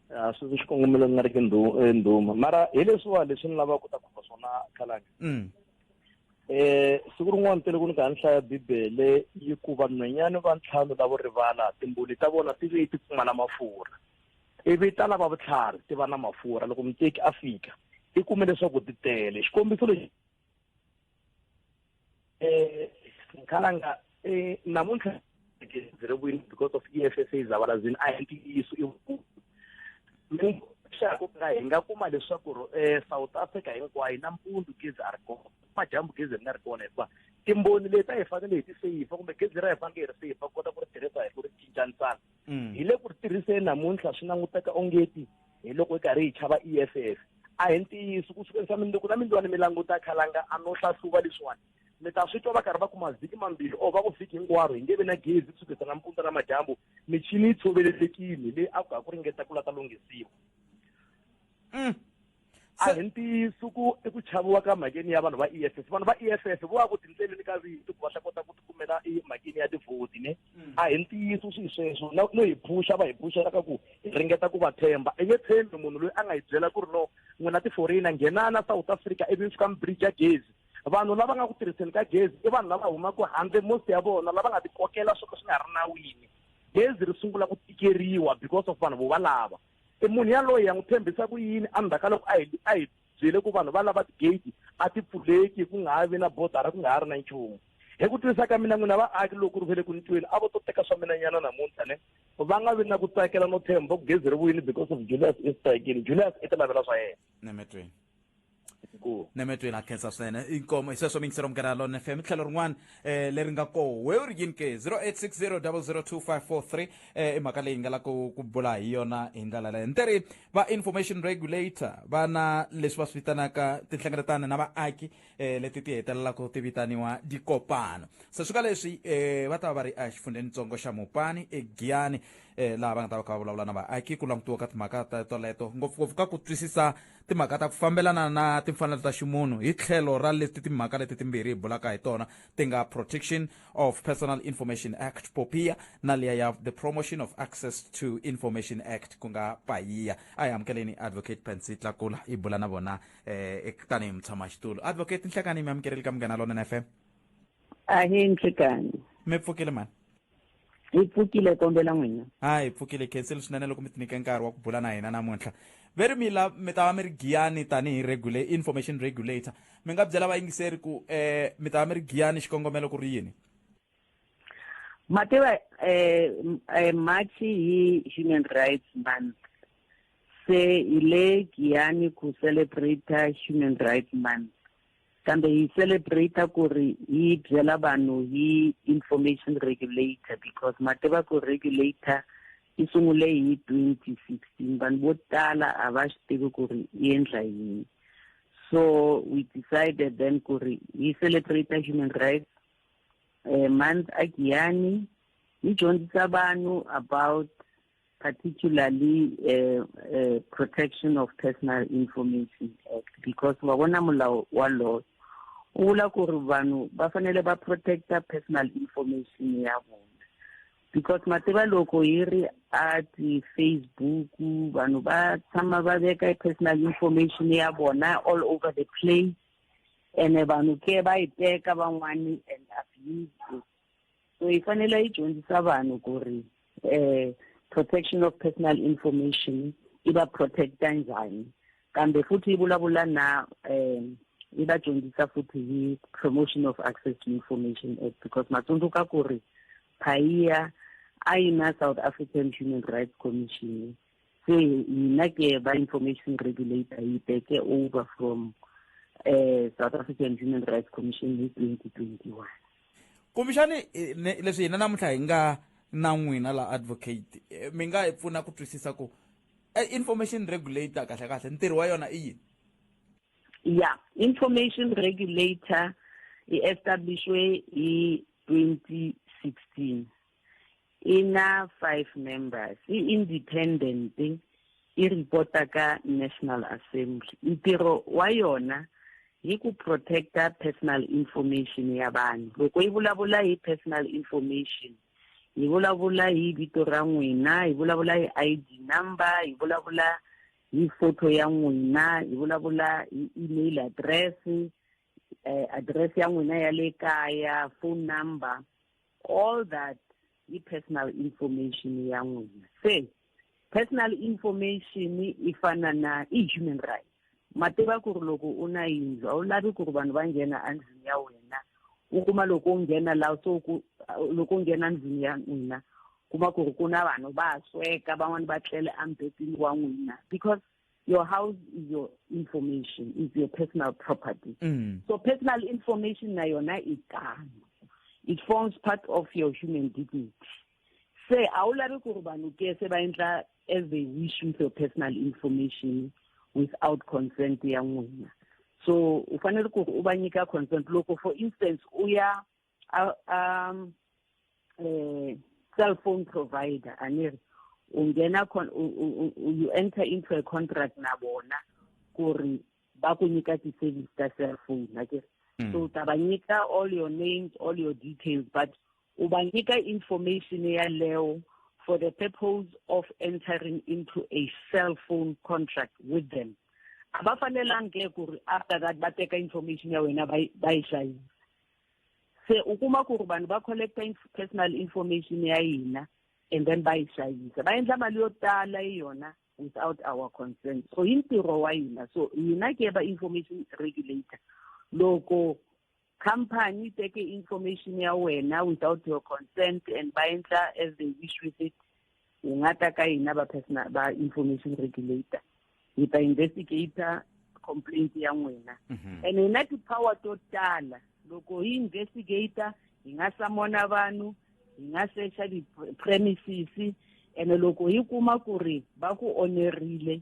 a swi xikongomelo ku nga ri ki e, ndhuma mara hi leswiwa leswi ni lavaka ku ta khumba swona khalanga um e, siku rin'wana tele ku ni ka ni hlaya bibele yi ku vanhwenyani va ntlhanu lavo rivala timbuli ta vona ti ve ti pfumala mafurha ivi ta lava vutlhari ti va na mafurha loko muteki a fika i kume leswaku ti tele xikombiso lexi eh ngikhalanga eh namuntlha ziri kwini because of e f s a zavalazini a hi ntiyiso i xaku ka hi nga kuma leswaku um south africa hinkwayo nampundzu gezi a ri kona madyambu gezi ri nga ri kona hikuva timboni leti a hi fanele hi ti seyifa kumbe gezi ra hi fanele hi ri seyifa kota ku ri tirhisa hi ku ri cincanisana mm. hi le ku ri tirhiseni namuntlha swi languteka ongeti hi loko hi karhi hi chava e f f a hi ntiyiso ku sukeni swa mindzuku na mindziwani mi languta khalanga a no hlahluva leswiwani mi ta swi twa va karhi va kuma vhiki mambirhi or va ku vhiki hinkwaro hi nge vi na gezi ku sukisa nampundza na madyambu michini yi tshoveletekile leyi a ku ha ku ringeta ku la ta lunghisiwa mm. a hi ntiyiso ku i ku chaviwa ka mhakeni ya vanhu va e f f vanhu va e f f vo va ku tindleleni ka vito ku va ta kota ku tikumela emhakeni ya tivhoti ne mm. a hi ntiyiso swilo sweswo no hi phuxa va hi phuxela ka ku hi ringeta ku va tshemba i nge tshembi munhu loyi a nga hi byela ku ri no n'wina tiforina nghenana south africa ivi fika mibridge ya gezi vanhu lava nga ku tirhiseni ka gezi i vanhu lava humaka handle most ya vona lava nga tikokela swo ka swi nga ri nawini gezi ri sungula ku tikeriwa because of vanhu vo valava i munhu yaloyi ya n'wi tshembisa ku yini endzhaku ka loko a hi a hi byele ku vanhu va lava tigate a ti pfuleki ku nga ha vi na bodara ku nga ha ri na nchumu hi ku twisisa ka mina n'wina vaaki loko ri vele ku ni tweni a vo to teka swa mina nyana namuntlha ne va nga vi na ku tsakela no tshemba ku gezi ri vuyini because of julius easter again julius i ti lavela swa yena nemetweni nemetweni a khensa swinene inkomo hisweswo mingisero mugera lon fm tlhelo rin'wana um leri nga koho we u ri yini ke 0860002543 um eh, i mhaka leyi nga la ku ku bula hi yona hi ndlela leyo nte ri va information regulator va na leswi va swi vitanaka tinhlengeletano na vaaki um leti ti hetelelaka ti vitaniwa dikopano se swi ka leswi um va ta va va ri exifundzhenitsongo xa mupani egiyani um laha va nga ta va kha va vulavula na vaaki ku langutiwa ka timhaka ta toleto ngopfungopfu ka ku twisisa timhaka ta ku fambelana na timfanelo ta ximunhu hi tlhelo ra leti timhaka leti timbirhi hi bulaka hi tona ti nga protection of personal information act popia na liya ya the promotion of access to information act ku nga payiya a hi amukeleni advocate pansy tlakula hi bula na vona eh, tanihi mutshamaxitulu advocate nhlekani mi amukeleli ka munghana lonene fm ahee nhlekani mi pfukile mani hi pfukile kombela n'wina ha hi pfukile khenseli swinene loko mi tinike nkarhi wa ku bula na hina namuntlha ve ri mi la mi ta va mi ri giyani tanihi regula information regulator mi nga byela vayingiseri ku um mi ta va mi ri giyani xikongomelo ku ri yini mativa um eh, march hi human rights month se hi le giyani ku celebrate human rights month Kambe hi celebrate ku ri hi byela vanhu hi information regulator because ma tiva ku regulator yi sungule hi 2016 vanhu vo tala a va swi tivi ku ri yi endla yini so we decided then ku ri hi celebrate human rights um month a giyani yi dyondzisa vanhu about particularly uh, uh, protection of personal information act because wa bona molao wa law o bula gore vanhu va fanele va protecta personal information ya vona because mativa loko yi ri a ti-facebook vanhu va tshama va veka personal information ya vona all over the place ene vanhu ke va yi teka van'wani and abuse so yi fanele yi dyondzisa vanhu ku ri um protection of personal information yi va protect-a njhani kambe futhi yi vulavula na um yi va dyondzisa futhi hi promotion of access to information act because ma tsundzuka ku ri phayiya a yi na south african human rights commission se yina ke ba information regulator yi take over from uh, south african human rights commission hi 2021 kumbexani eh, leswi hina namuntlha hi nga na n'wina la advocate eh, mi nga hi pfuna ku twisisa ku eh, information regulator kahle kahle ntirho wa yona i yini ya information regulator i-establishwe hi 2016 e na five members e independent e reporta ka national assembly ntirho wa yona hi ku protecta personal information ya vanhu loko yi vulavula hi personal information hi vulavula hi vito ra n'wina hi vulavula hi i d number hi vulavula hi photo ya n'wina hi vulavula hi email address eh, address ya n'wina ya le kaya phone number all that i personal information ya n'wina se personal information i fana na i human rights ma tiva ku ri loko u na yindlu a wu lavi ku ri vanhu va nghena endlwini ya wena u kuma loko u nghena laha so ku loko u nghena ndlwini ya n'wina kuma ku ri ku na vanhu va sweka van'wani va tlele embetini wa n'wina because your house is your information is your personal property mm. so personal information na yona e tano it forms part of your human dignity se a wu lavi ku ri vanhu ke se va endla as they wish with your personal information without consent ya n'wina so u fanele ku ri u va nyika consent loko for instance u ya a, a um, eh, cell phone provider a ni ri u nghena you enter into a contract na vona ku ri va ku nyika ti-service ta cell phone a ke mm. so u ta va nyika all your names all your details but u va nyika information yaleyo for the purpose of entering into a cell phone contract with them a va fanelangi ke ku ri after that va teka information ya wena va yi hlayisa se u kuma ku ri vanhu va collecta personal information ya hina and then va yi xavisa va endla mali yo tala hi yona without our consent so hi ntirho wa hina so hina ke va information regulator loko company yi teke information ya wena without your consent and va endla as they wish with it u nga ta ka hina va personal va information regulator hi ta investigator complaint ya n'wina mhm. and hi na ti-power to tala loko hi investigator hi nga samona vanhu hi nga secha ti-premises ene loko hi kuma ku ri va ku onerile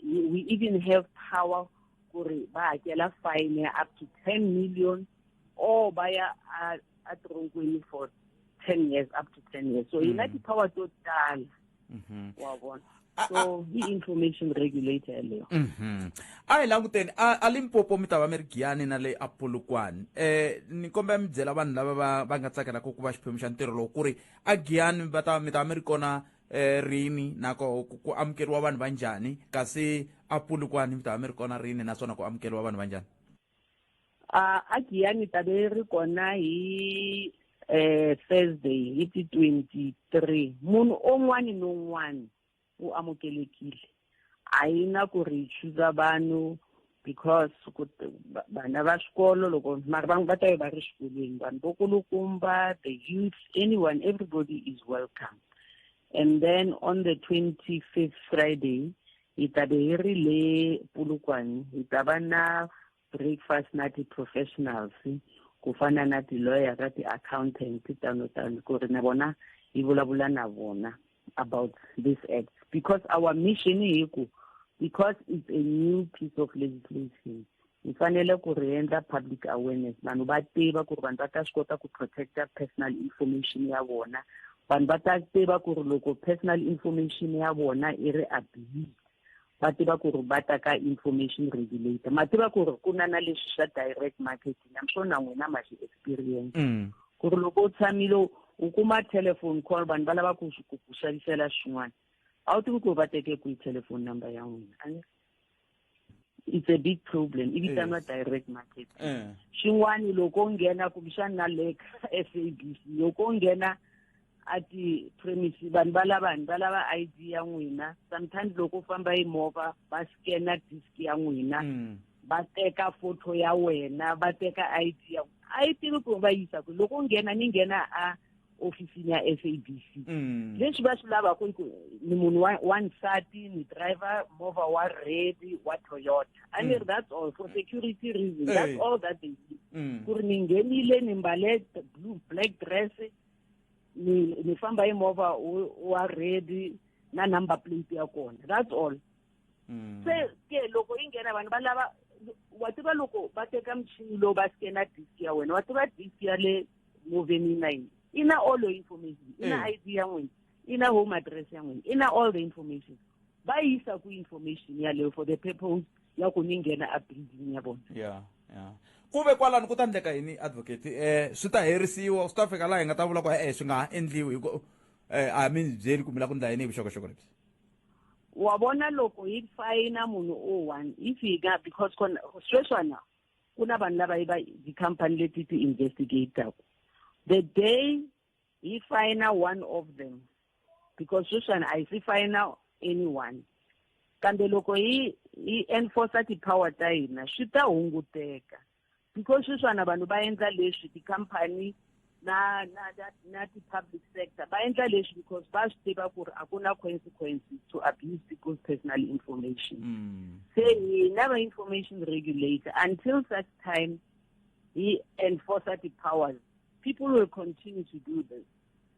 we even have power ku ri va hakela fine ya up to ten million or ba ya a tironkweni for ten years up to ten years so yi na mm. ti-power to tala mm-hmm. wa vona so hi information regulator leyo mm-hmm. a hi languteni a limpopo mi ta va mi ri giyani na le apolokwani um eh, ni kombela mi byela vanhu lava va va nga tsakelaka ku va xiphemu xa ntirho lowu ku ri a giyani va ta mi ta va mi ri kona um rini nako ku amukeriwa vanhu va njhani kasi apolokwani mi ta va mi ri kona rini naswona ku amukeriwa vanhu va njhani a a giyani ta ve ri kona hi um thursday hi ti-twenty three munhu un'wana ni un'wana u amukelekile a yi na ku ri hi chuza vanhu because vana va xikolo loko mara vanhu va ta ve va ri xikolweni vanhu vo kulukumba the youth anyone everybody is welcome and then on the twenty fifth friday hi ta be hi ri le pulukwani hi ta va na breakfast na ti-professionals ku fana na ti-lawyer ka ti-accountant tano tano ku ri na vona hi vulavula na vona about this act because our mission hi ku because it's a new piece of legislation hi fanele ku ri endla public awareness vanhu va tiva ku ri vanhu va ta swi kota ku protecta personal information ya vona vanhu va ta tiva ku ri loko personal information ya vona i ri abuse va tiva ku ri va ta ka information regulator ma tiva ku ri ku na na leswi swa direct marketing am sure na n'wina ma xi experience mm. ku ri loko u tshamile u kuma telephone call vanhu va lava ku ku xavisela swin'wana a wu tivi ku ri va teke kwihi telephone number ya n'wina it's a big problem i vitaniwa eh. direct market eh. xin'wana loko u nghena kumbexana na le ka s a b c loko u nghena a ti-premise vanhu va lava vanhu va lava i d ya n'wina sometimes loko u famba hi movha va scanna disk ya n'wina mm. va teka photo ya wena va teka i d ya a yi tivi ku va yisa ku loko u nghena ni nghena a ofisini ya sabc mm. leswi va swi lavaka i ku ni munhu wa nsati ni driver movha wa red wa toyota i mean mm. that's all for security reason that's all that they need mm. ku ri ni nghenile ni mbale blue black dress ni ni famba hi movha wa red na number plate ya kona that's all mm. se ke loko yi nghena vanhu va lava wa tiva loko va teka muchini lowu va skena disk ya wena wa tiva disk ya le moveni na yini i na all your information i na eh. id ya n'wina i na home address ya n'wina i na all the information va yisa ku information yaleyo for the purpose ya ku ni nghena a building ya vona yeah yeah ku ve kwalani ku ta endleka yini advocate eh swi ta herisiwa swi ta fika laha hi nga ta vula ku e-e swi nga ha endliwi hi ku eh a mi byeli kumbe la ku ndla yini hi vuxokoxoko lebyi wa vona loko hi fayina munhu o one hi fika because kona sweswana ku na vanhu lava va tikhampani leti ti investigataku the day hi fayina one of them because sweswana a hi si fayina anyone kambe loko hi hi enforcer ti-power ta hina swi ta hunguteka because sweswana vanhu va endla leswi tikhampani na na na, na ti-public sector va endla leswi because va swi tiva ku ri a ku na consequences to abuse people's personal information mm. se hina va information regulator until such time he enforce ti-powers people will continue to do this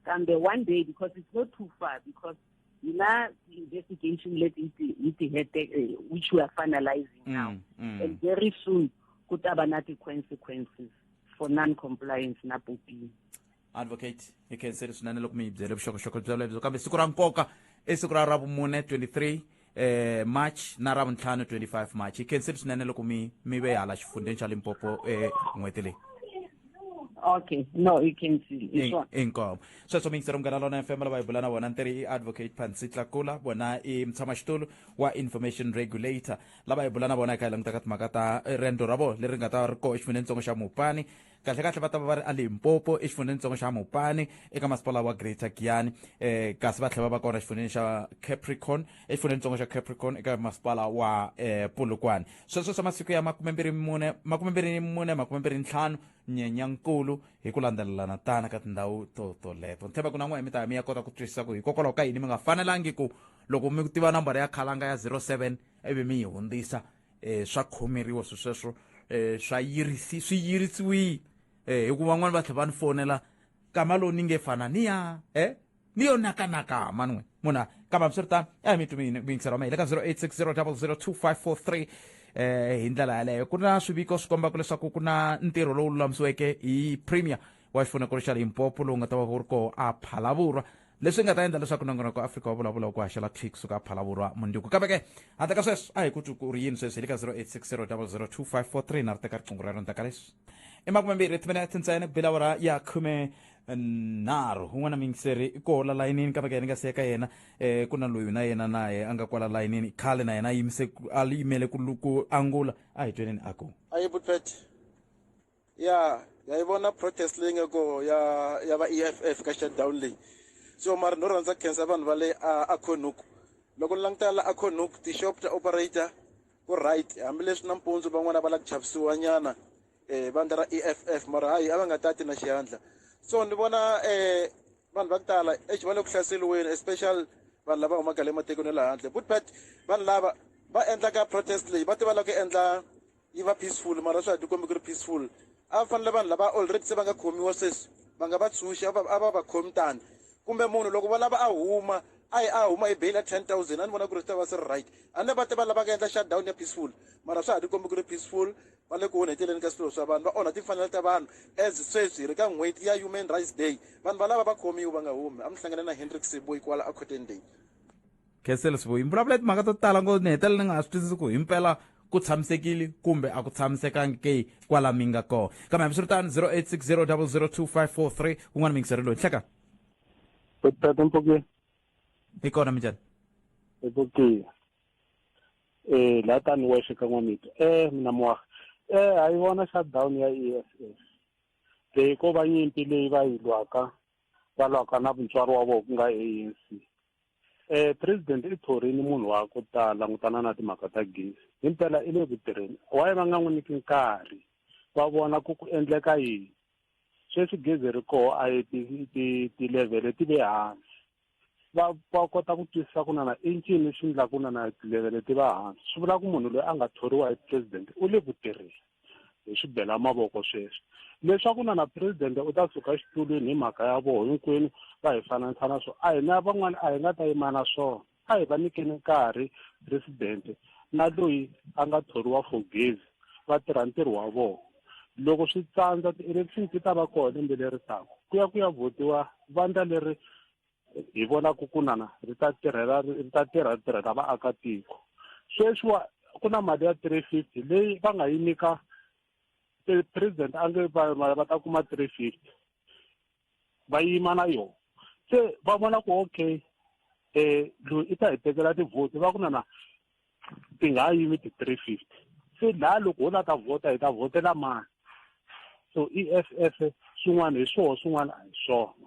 kambe one day because it's not too far because Yila investigation let it it hete eh, which we are finalizing mm, now. Mm. And very soon kutaba na consequences for non-compliance na popini. Advocate, hi khenseri swinene loko mi hi byele vuxokoxoko bya lebyo kambe siku ra nkoka i siku ra ra vumune 23 eh march na ravuntlhanu 25 march hi khensile swinene loko mi mi ve hala xifundzheni xa limpopo eh n'hweti leyi okay no i khensile hi swona inkomo sweswo mingisero munghana lona fm lava hi bula na vona ntirhi i advocate pansi tlakula vona i mutshama xitulu wa information regulator lava hi bula na vona hi kha hi langutaka timhaka ta eh, riendzo ra vona leri nga ta ri koho exifunenitsongo xa mupani kahlekahle va ta va va ri elimpopo exifundzhenitsongo xa mopane eka masipala wa greater giyani um eh, kasi va tlhela va va kona exifundzheni xa capricorn exifundzhenitsongo xa capricorn eka masipala wa um eh, pulukwane sweswo swa masiku ya makumembirhi mune makumembirhi mune makumembirhi ntlhanu nyenyankulu hi ku landzelelana tana ka tindhawu to toleto ni tshemba ku na n'we mi ta mi ya kota ku twisisa ku hikokwalaho ka yini mi nga fanelangi ku loko mi tiva nambara ya khalanga ya 07 ivi mi yi hundzisa um swa khomeriwa swi sweswo um swa yirisi swi yirisiwile um hi ku van'wani va tlhela va ni fonela kama lowu ni nge fana ni ya e ni yo nakanaka mani n'we munhu a kamba swi ri tano a hi mi tumini ku yingisela mahile ka 0860002543 eh hi ndlela yaleyo ku na swiviko swi kombaka leswaku ku na ntirho lowu lulamisiweke hi premier wa xifunakulu xa limpopo lowu nga ta va wu ri koho a phalavurwa leswi nga ta endla leswaku nongonoko wa afrika wa vulavula ku haxela thwi kusuka phalavurwa munduku kambe ke handle ka sweswo a hi ku twi ku ri yini sweswi hi le ka 0860002543 na ri teka riqingho rero ndzaka leswi i makume mbirhi timinete ntsena ku bela wara ya khume nharhu un'wana mingiseri i koho la layinini kambe ke ni nga siyeka yena um ku na loyi na yena naye a nga kwala layinini khale na yena a yimise a yimele ku angula a hi tweneni a ku a yi butwete ya ya yi vona protest leyi nga ko ya ya va EFF ka shutdown leyi so mara no rhandza khensa vanhu va le a Khonuku loko ni languta la a Khonuku tixop ta operator ku right hambileswi nampundzu van'wana va la ku chavisiwa nyana eh vandla ra EFF mara hayi a va nga tati na xihandla so ni vona eh vanhu va ku tala exi va le ku hlaseriweni especially vanhu lava humaka le matikweni ya le handle but but vanhu lava va endlaka protest leyi va tiva la ku endla yi va peaceful mara swi a ti kombi ku ri peaceful a va fanele vanhu lava already se va nga khomiwa sweswi va nga va tshunxi a va va khomi tani kumbe munhu loko va lava a huma a yi a huma hi beyila ten thousand a ni vona ku ri swi ta va swi ri right a ni va te va lavaka endla shutdown ya peaceful mara swa ha ti kombi ku ri peaceful va le ku onheteleni ka swilo swa vanhu va onha timfanelo ta vanhu as sweswi hi ri ka n'hweti ya human rights day vanhu valava va khomiwa va nga humi a mi hlangane na hendrik seboy kwala a cotton day khensele swivo yi mbulavulo ya timhaka to tala ngo ni hetelela ni nga ha swi twisisi ku himpela ku tshamisekile kumbe a ku tshamisekangi ke kwala mi nga kona kambe hambi swi ri tani 0860 002 kun'wana mi yingiseri loyi nhleka tata mpokeni hi kona minjani mpokeni eh la tani wexe ka n'wamito eh mina moaga eh a yi vona shutdown ya e s s leyi ko va nyimpi leyi va yi lwaka va lwaka na mutswari wa vona ku nga a n c Eh, president i thorini munhu wa ku ta langutana na timhaka ta gezi hi mpela i le ku tirheni waye va nga n'wi nyiki nkarhi va vona ku ku endleka yini sweswi gezi ri koho a yi tilevhele ti le hansi va va kota ku twisisa ku nana i ncini xi ndla ku nana tilevhele ti va hansi swi vula ku munhu loyi a nga thoriwa hi president u le ku tirheni hi swi bela mavoko sweswi leswaku na na president u ta suka xitulwini hi mhaka ya voho hinkwenu va hi fananisa na swona a hi na van'wana a hi nga ta yima na swona a hi va nyikeni nkarhi president na loyi a nga thoriwa for gezi va tirha ntirho wa vona loko swi tsandza ti-election ti ta va kona lembe leri taka ku ya ku ya votiwa vandla leri hi vona ku kunana ri ta tirhela ri ta tirha ri tirhela vaakatiko sweswiwa ku na mali ya three fifty leyi va nga yi nyika president a nge va ta kuma three fifty va yima na yona se va vona ku okay um loyi i ta hi tekela tivhoti va ku na na ti nga yimi ti-three fifty se laha loko ho la ta vhota hi ta vhotela mani so i e f f swin'wana hi swoho swin'wana a hi swona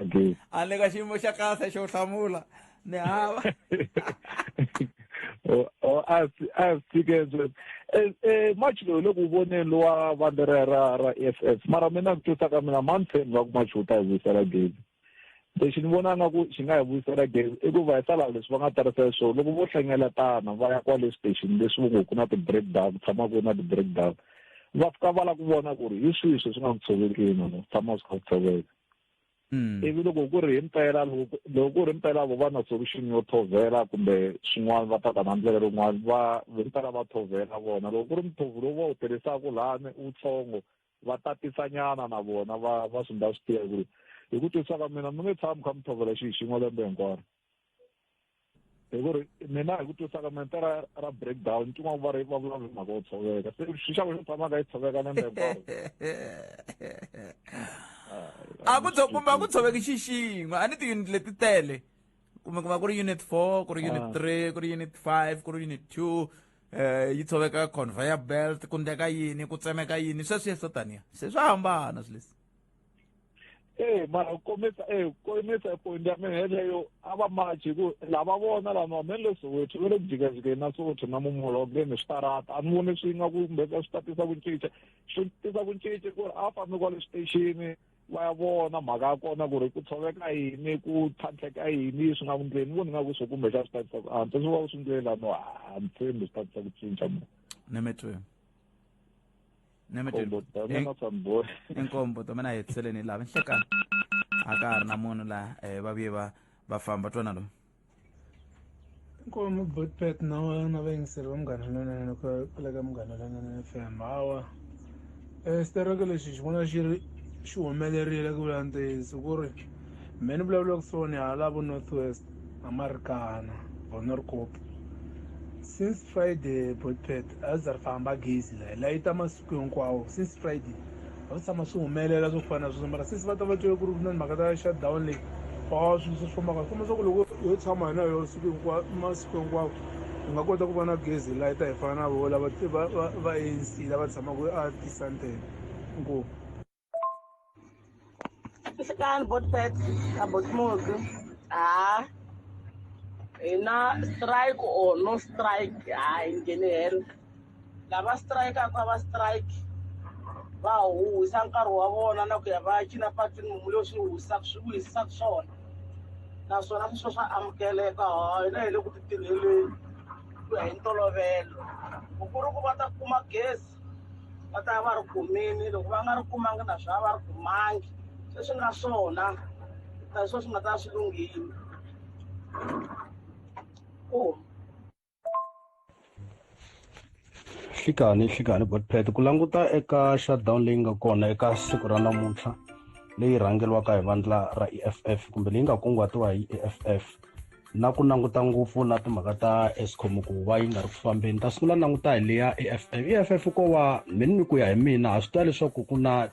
okay a le ka xiyimo xa kahle xo hlamula ni hava or oh, oh, as as tickets eh, eh match lowu loko u voneni lowa vandla ra ra ra f f mara mina ku twisa ka mina mountain va ku match wu ta hi vuyisela gezi lexi ni vona nga ku xi nga hi vuyisela gezi i ku va hi sala leswi va nga tarisa swona loko vo hlengeletana va ya kwale station leswi vo ngo ku na ti-break down ku tshama ku ri na ti-break down va fika va la ku vona ku ri hi swihi swi swi nga ku tshovekini no tshama swi kha ku tshoveka hmm. ivi loko ku ri hi mpela loko ku ri mpela vo va na solution yo thovela kumbe swin'wana va ta ta na ndlela rin'wana va hi mpela va thovela vona loko ku ri muthovu lowu va wu tirhisaka lani wutsongo va tatisanyana na vona va va swi nga swi tiva ku ri hi ku twisaka mina mi nge tshami kha mi tshovela xihi xin'we lembe hinkwaro hi ku ri mina hi ku twisaka mente ra ra breakdown tin'wana va ri va vulavula hi mhaka yo tshoveka se xixako xo tshamaka yi tshoveka na lembe a ku tsho kumbe a ku tshoveki xi xin'we a ni tiyunit leti tele kumbe ku va ku ri unit four ku ri unit ah. three ku ri unit five ku ri unit two um yi tshoveka conveyor belt ku ndeka yini ku tsemeka yini sweswi yeswo taniya se swa hambana swi leswi ee mara komisa ee komisa point ya mina yeleyo a va machi hi ku lava vona lama me le soweto ve le ku jikajikeni na soweto na mumolonge ni switarata a ni voni swi nga ku kumbe swi ta tisa ku cinca swi tisa ku cinca ku ri a fambi kwale xitexini va ya vona mhaka ya kona ku ri ku tshoveka yini ku tlhantlheka yini swi nga ku ndleni voni nga ku swo kumbe xa swi ta tisa ku antswa swi va swi ndleni lano a ni tshembi swi ta tisa ku cinca mo ni mitwe nkombo domena samboni inkombo domena hi tiseleni hi lava nhlekani a ka ha ri na munhu laha um eh, vavuye va va famba twana lomu inkomo botpet na na vayingiseri va munghana lonene ku kula ka munghana lonene fm hawa um eh, xitaraka lexi xi vona xi ri xi humelerile ku vula ntiyiso ku ri mehe ni vulavulaka swona hala vo north west amarikana vonorcop since friday botpet a za ri famba gezi layi layi ta masiku hinkwawo since friday a swi tshama swi humelela swo fana na sweswo mara since va ta va twele ku ri ku na mhaka ta shutdown leyi a swilo swi fambaka swi komba swa ku loko yo tshama hina yo siku hinkwawo masiku hinkwawo hi nga kota ku va na gezi layi ta hi fana na vo lava va anc lava tshamaka a tisantele inkomu Kasi kaan bot pet, kabot mo ko. Ah, ina strike o no strike, ah, in general. Lava strike ako, lava strike. va huhisa nkarhi wa vona na ku ya va ya cina patwini mumu leyi swi huhisaka swi vuhisisaka swona naswona swi swo swa amukeleka hina hi le ku ti tirheleni ku ya hi ntolovelo ku ku ri ku va ta kuma gezi va ta va ri kumini loko va nga ri kumangi na swa va ri kumangi se swi nga swona ta swo swi nga ta swi lunghile ku hlikani hlikani botpet ku languta eka shutdown leyi nga kona eka siku ra namuntlha leyi rhangeriwaka hi vandla ra eff kumbe leyi nga kunguhatiwa hi eff na ku languta ngopfu na timhaka ta escom ku va yi nga ri ku fambeni kasi ku la languta hi leya eff eff ko va mini ni ku ya hi mina ha swi tiva leswaku ku na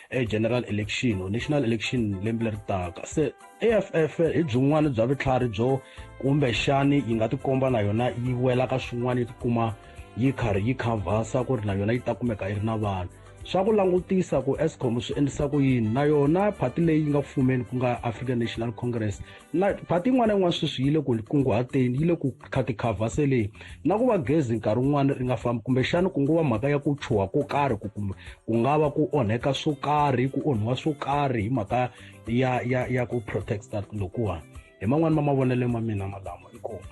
e-general election or national election lembe leri taka se eff hi byin'wana bya vutlhari byo kumbexani yi nga tikomba na yona yi wela ka swin'wana yi tikuma yi karhi yi khavhasa ku ri na yona yi ta kumeka yi ri na vanhu swa ku langutisa ku escom swi endlisa ku yini na yona phati leyi nga ku fumeni ku nga african national congress na phati yin'wana na yin'wana sweswi yi le ku kunguhateni yi le ku khatikhavhaseleni na ku va gezi nkarhi wun'wana ri nga fambi kumbexana ku ngo va mhaka ya ku chuha ko karhi ku kumbe ku nga va ku onheka swo karhi ku onhiwa swo karhi hi mhaka ya ya ya ku protecta lokuwani hi man'wani ma mavonelo ma mina malamo inkomu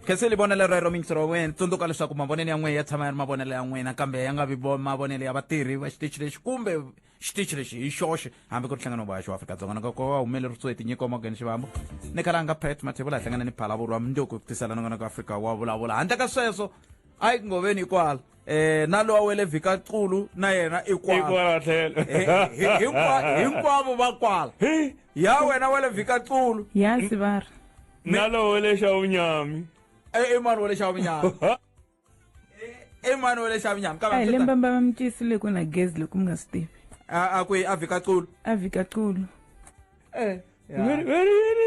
khenseli vonelo rero mingisi ra wena tsundzuka leswaku mavonelo ya n'wina ya tshama ya ri mavonelo ya n'wina kambe ya nga vi mavonelo ya vatirhi va xitichi lexi kumbe xitichi lexi hi xoxe hambi ku ri nhlangano wa xo afrika-dzonga na kokwa wa humelerisiwe tinyiko morgan xivambo ni kalanga pet mathevula hi hlangana ni phalavuri wa mundzuku ku tisela nongana ku afrika wa vulavula handle ka sweswo a yi ku ngoveni ikwala eh na lowa wele vhika culu na yena ikwala hinkwavo va kwala ya wena wele vhika culu yasi vara na lowa wele xa vunyami i mani wele xa vunyami i mani wa le xavinyama ka hi lembe mbava mi tiyisile ku na gezi loko mi nga swi tivi a kwihi a vhika culu a vhika culu eh,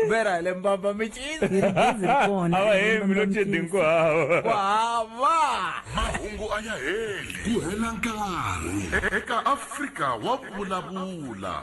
vera hi lembamba mi cisaawahemilocedinkuhawahava mahungu a ya heli ku hela nkarhi eka afrika wa vulavula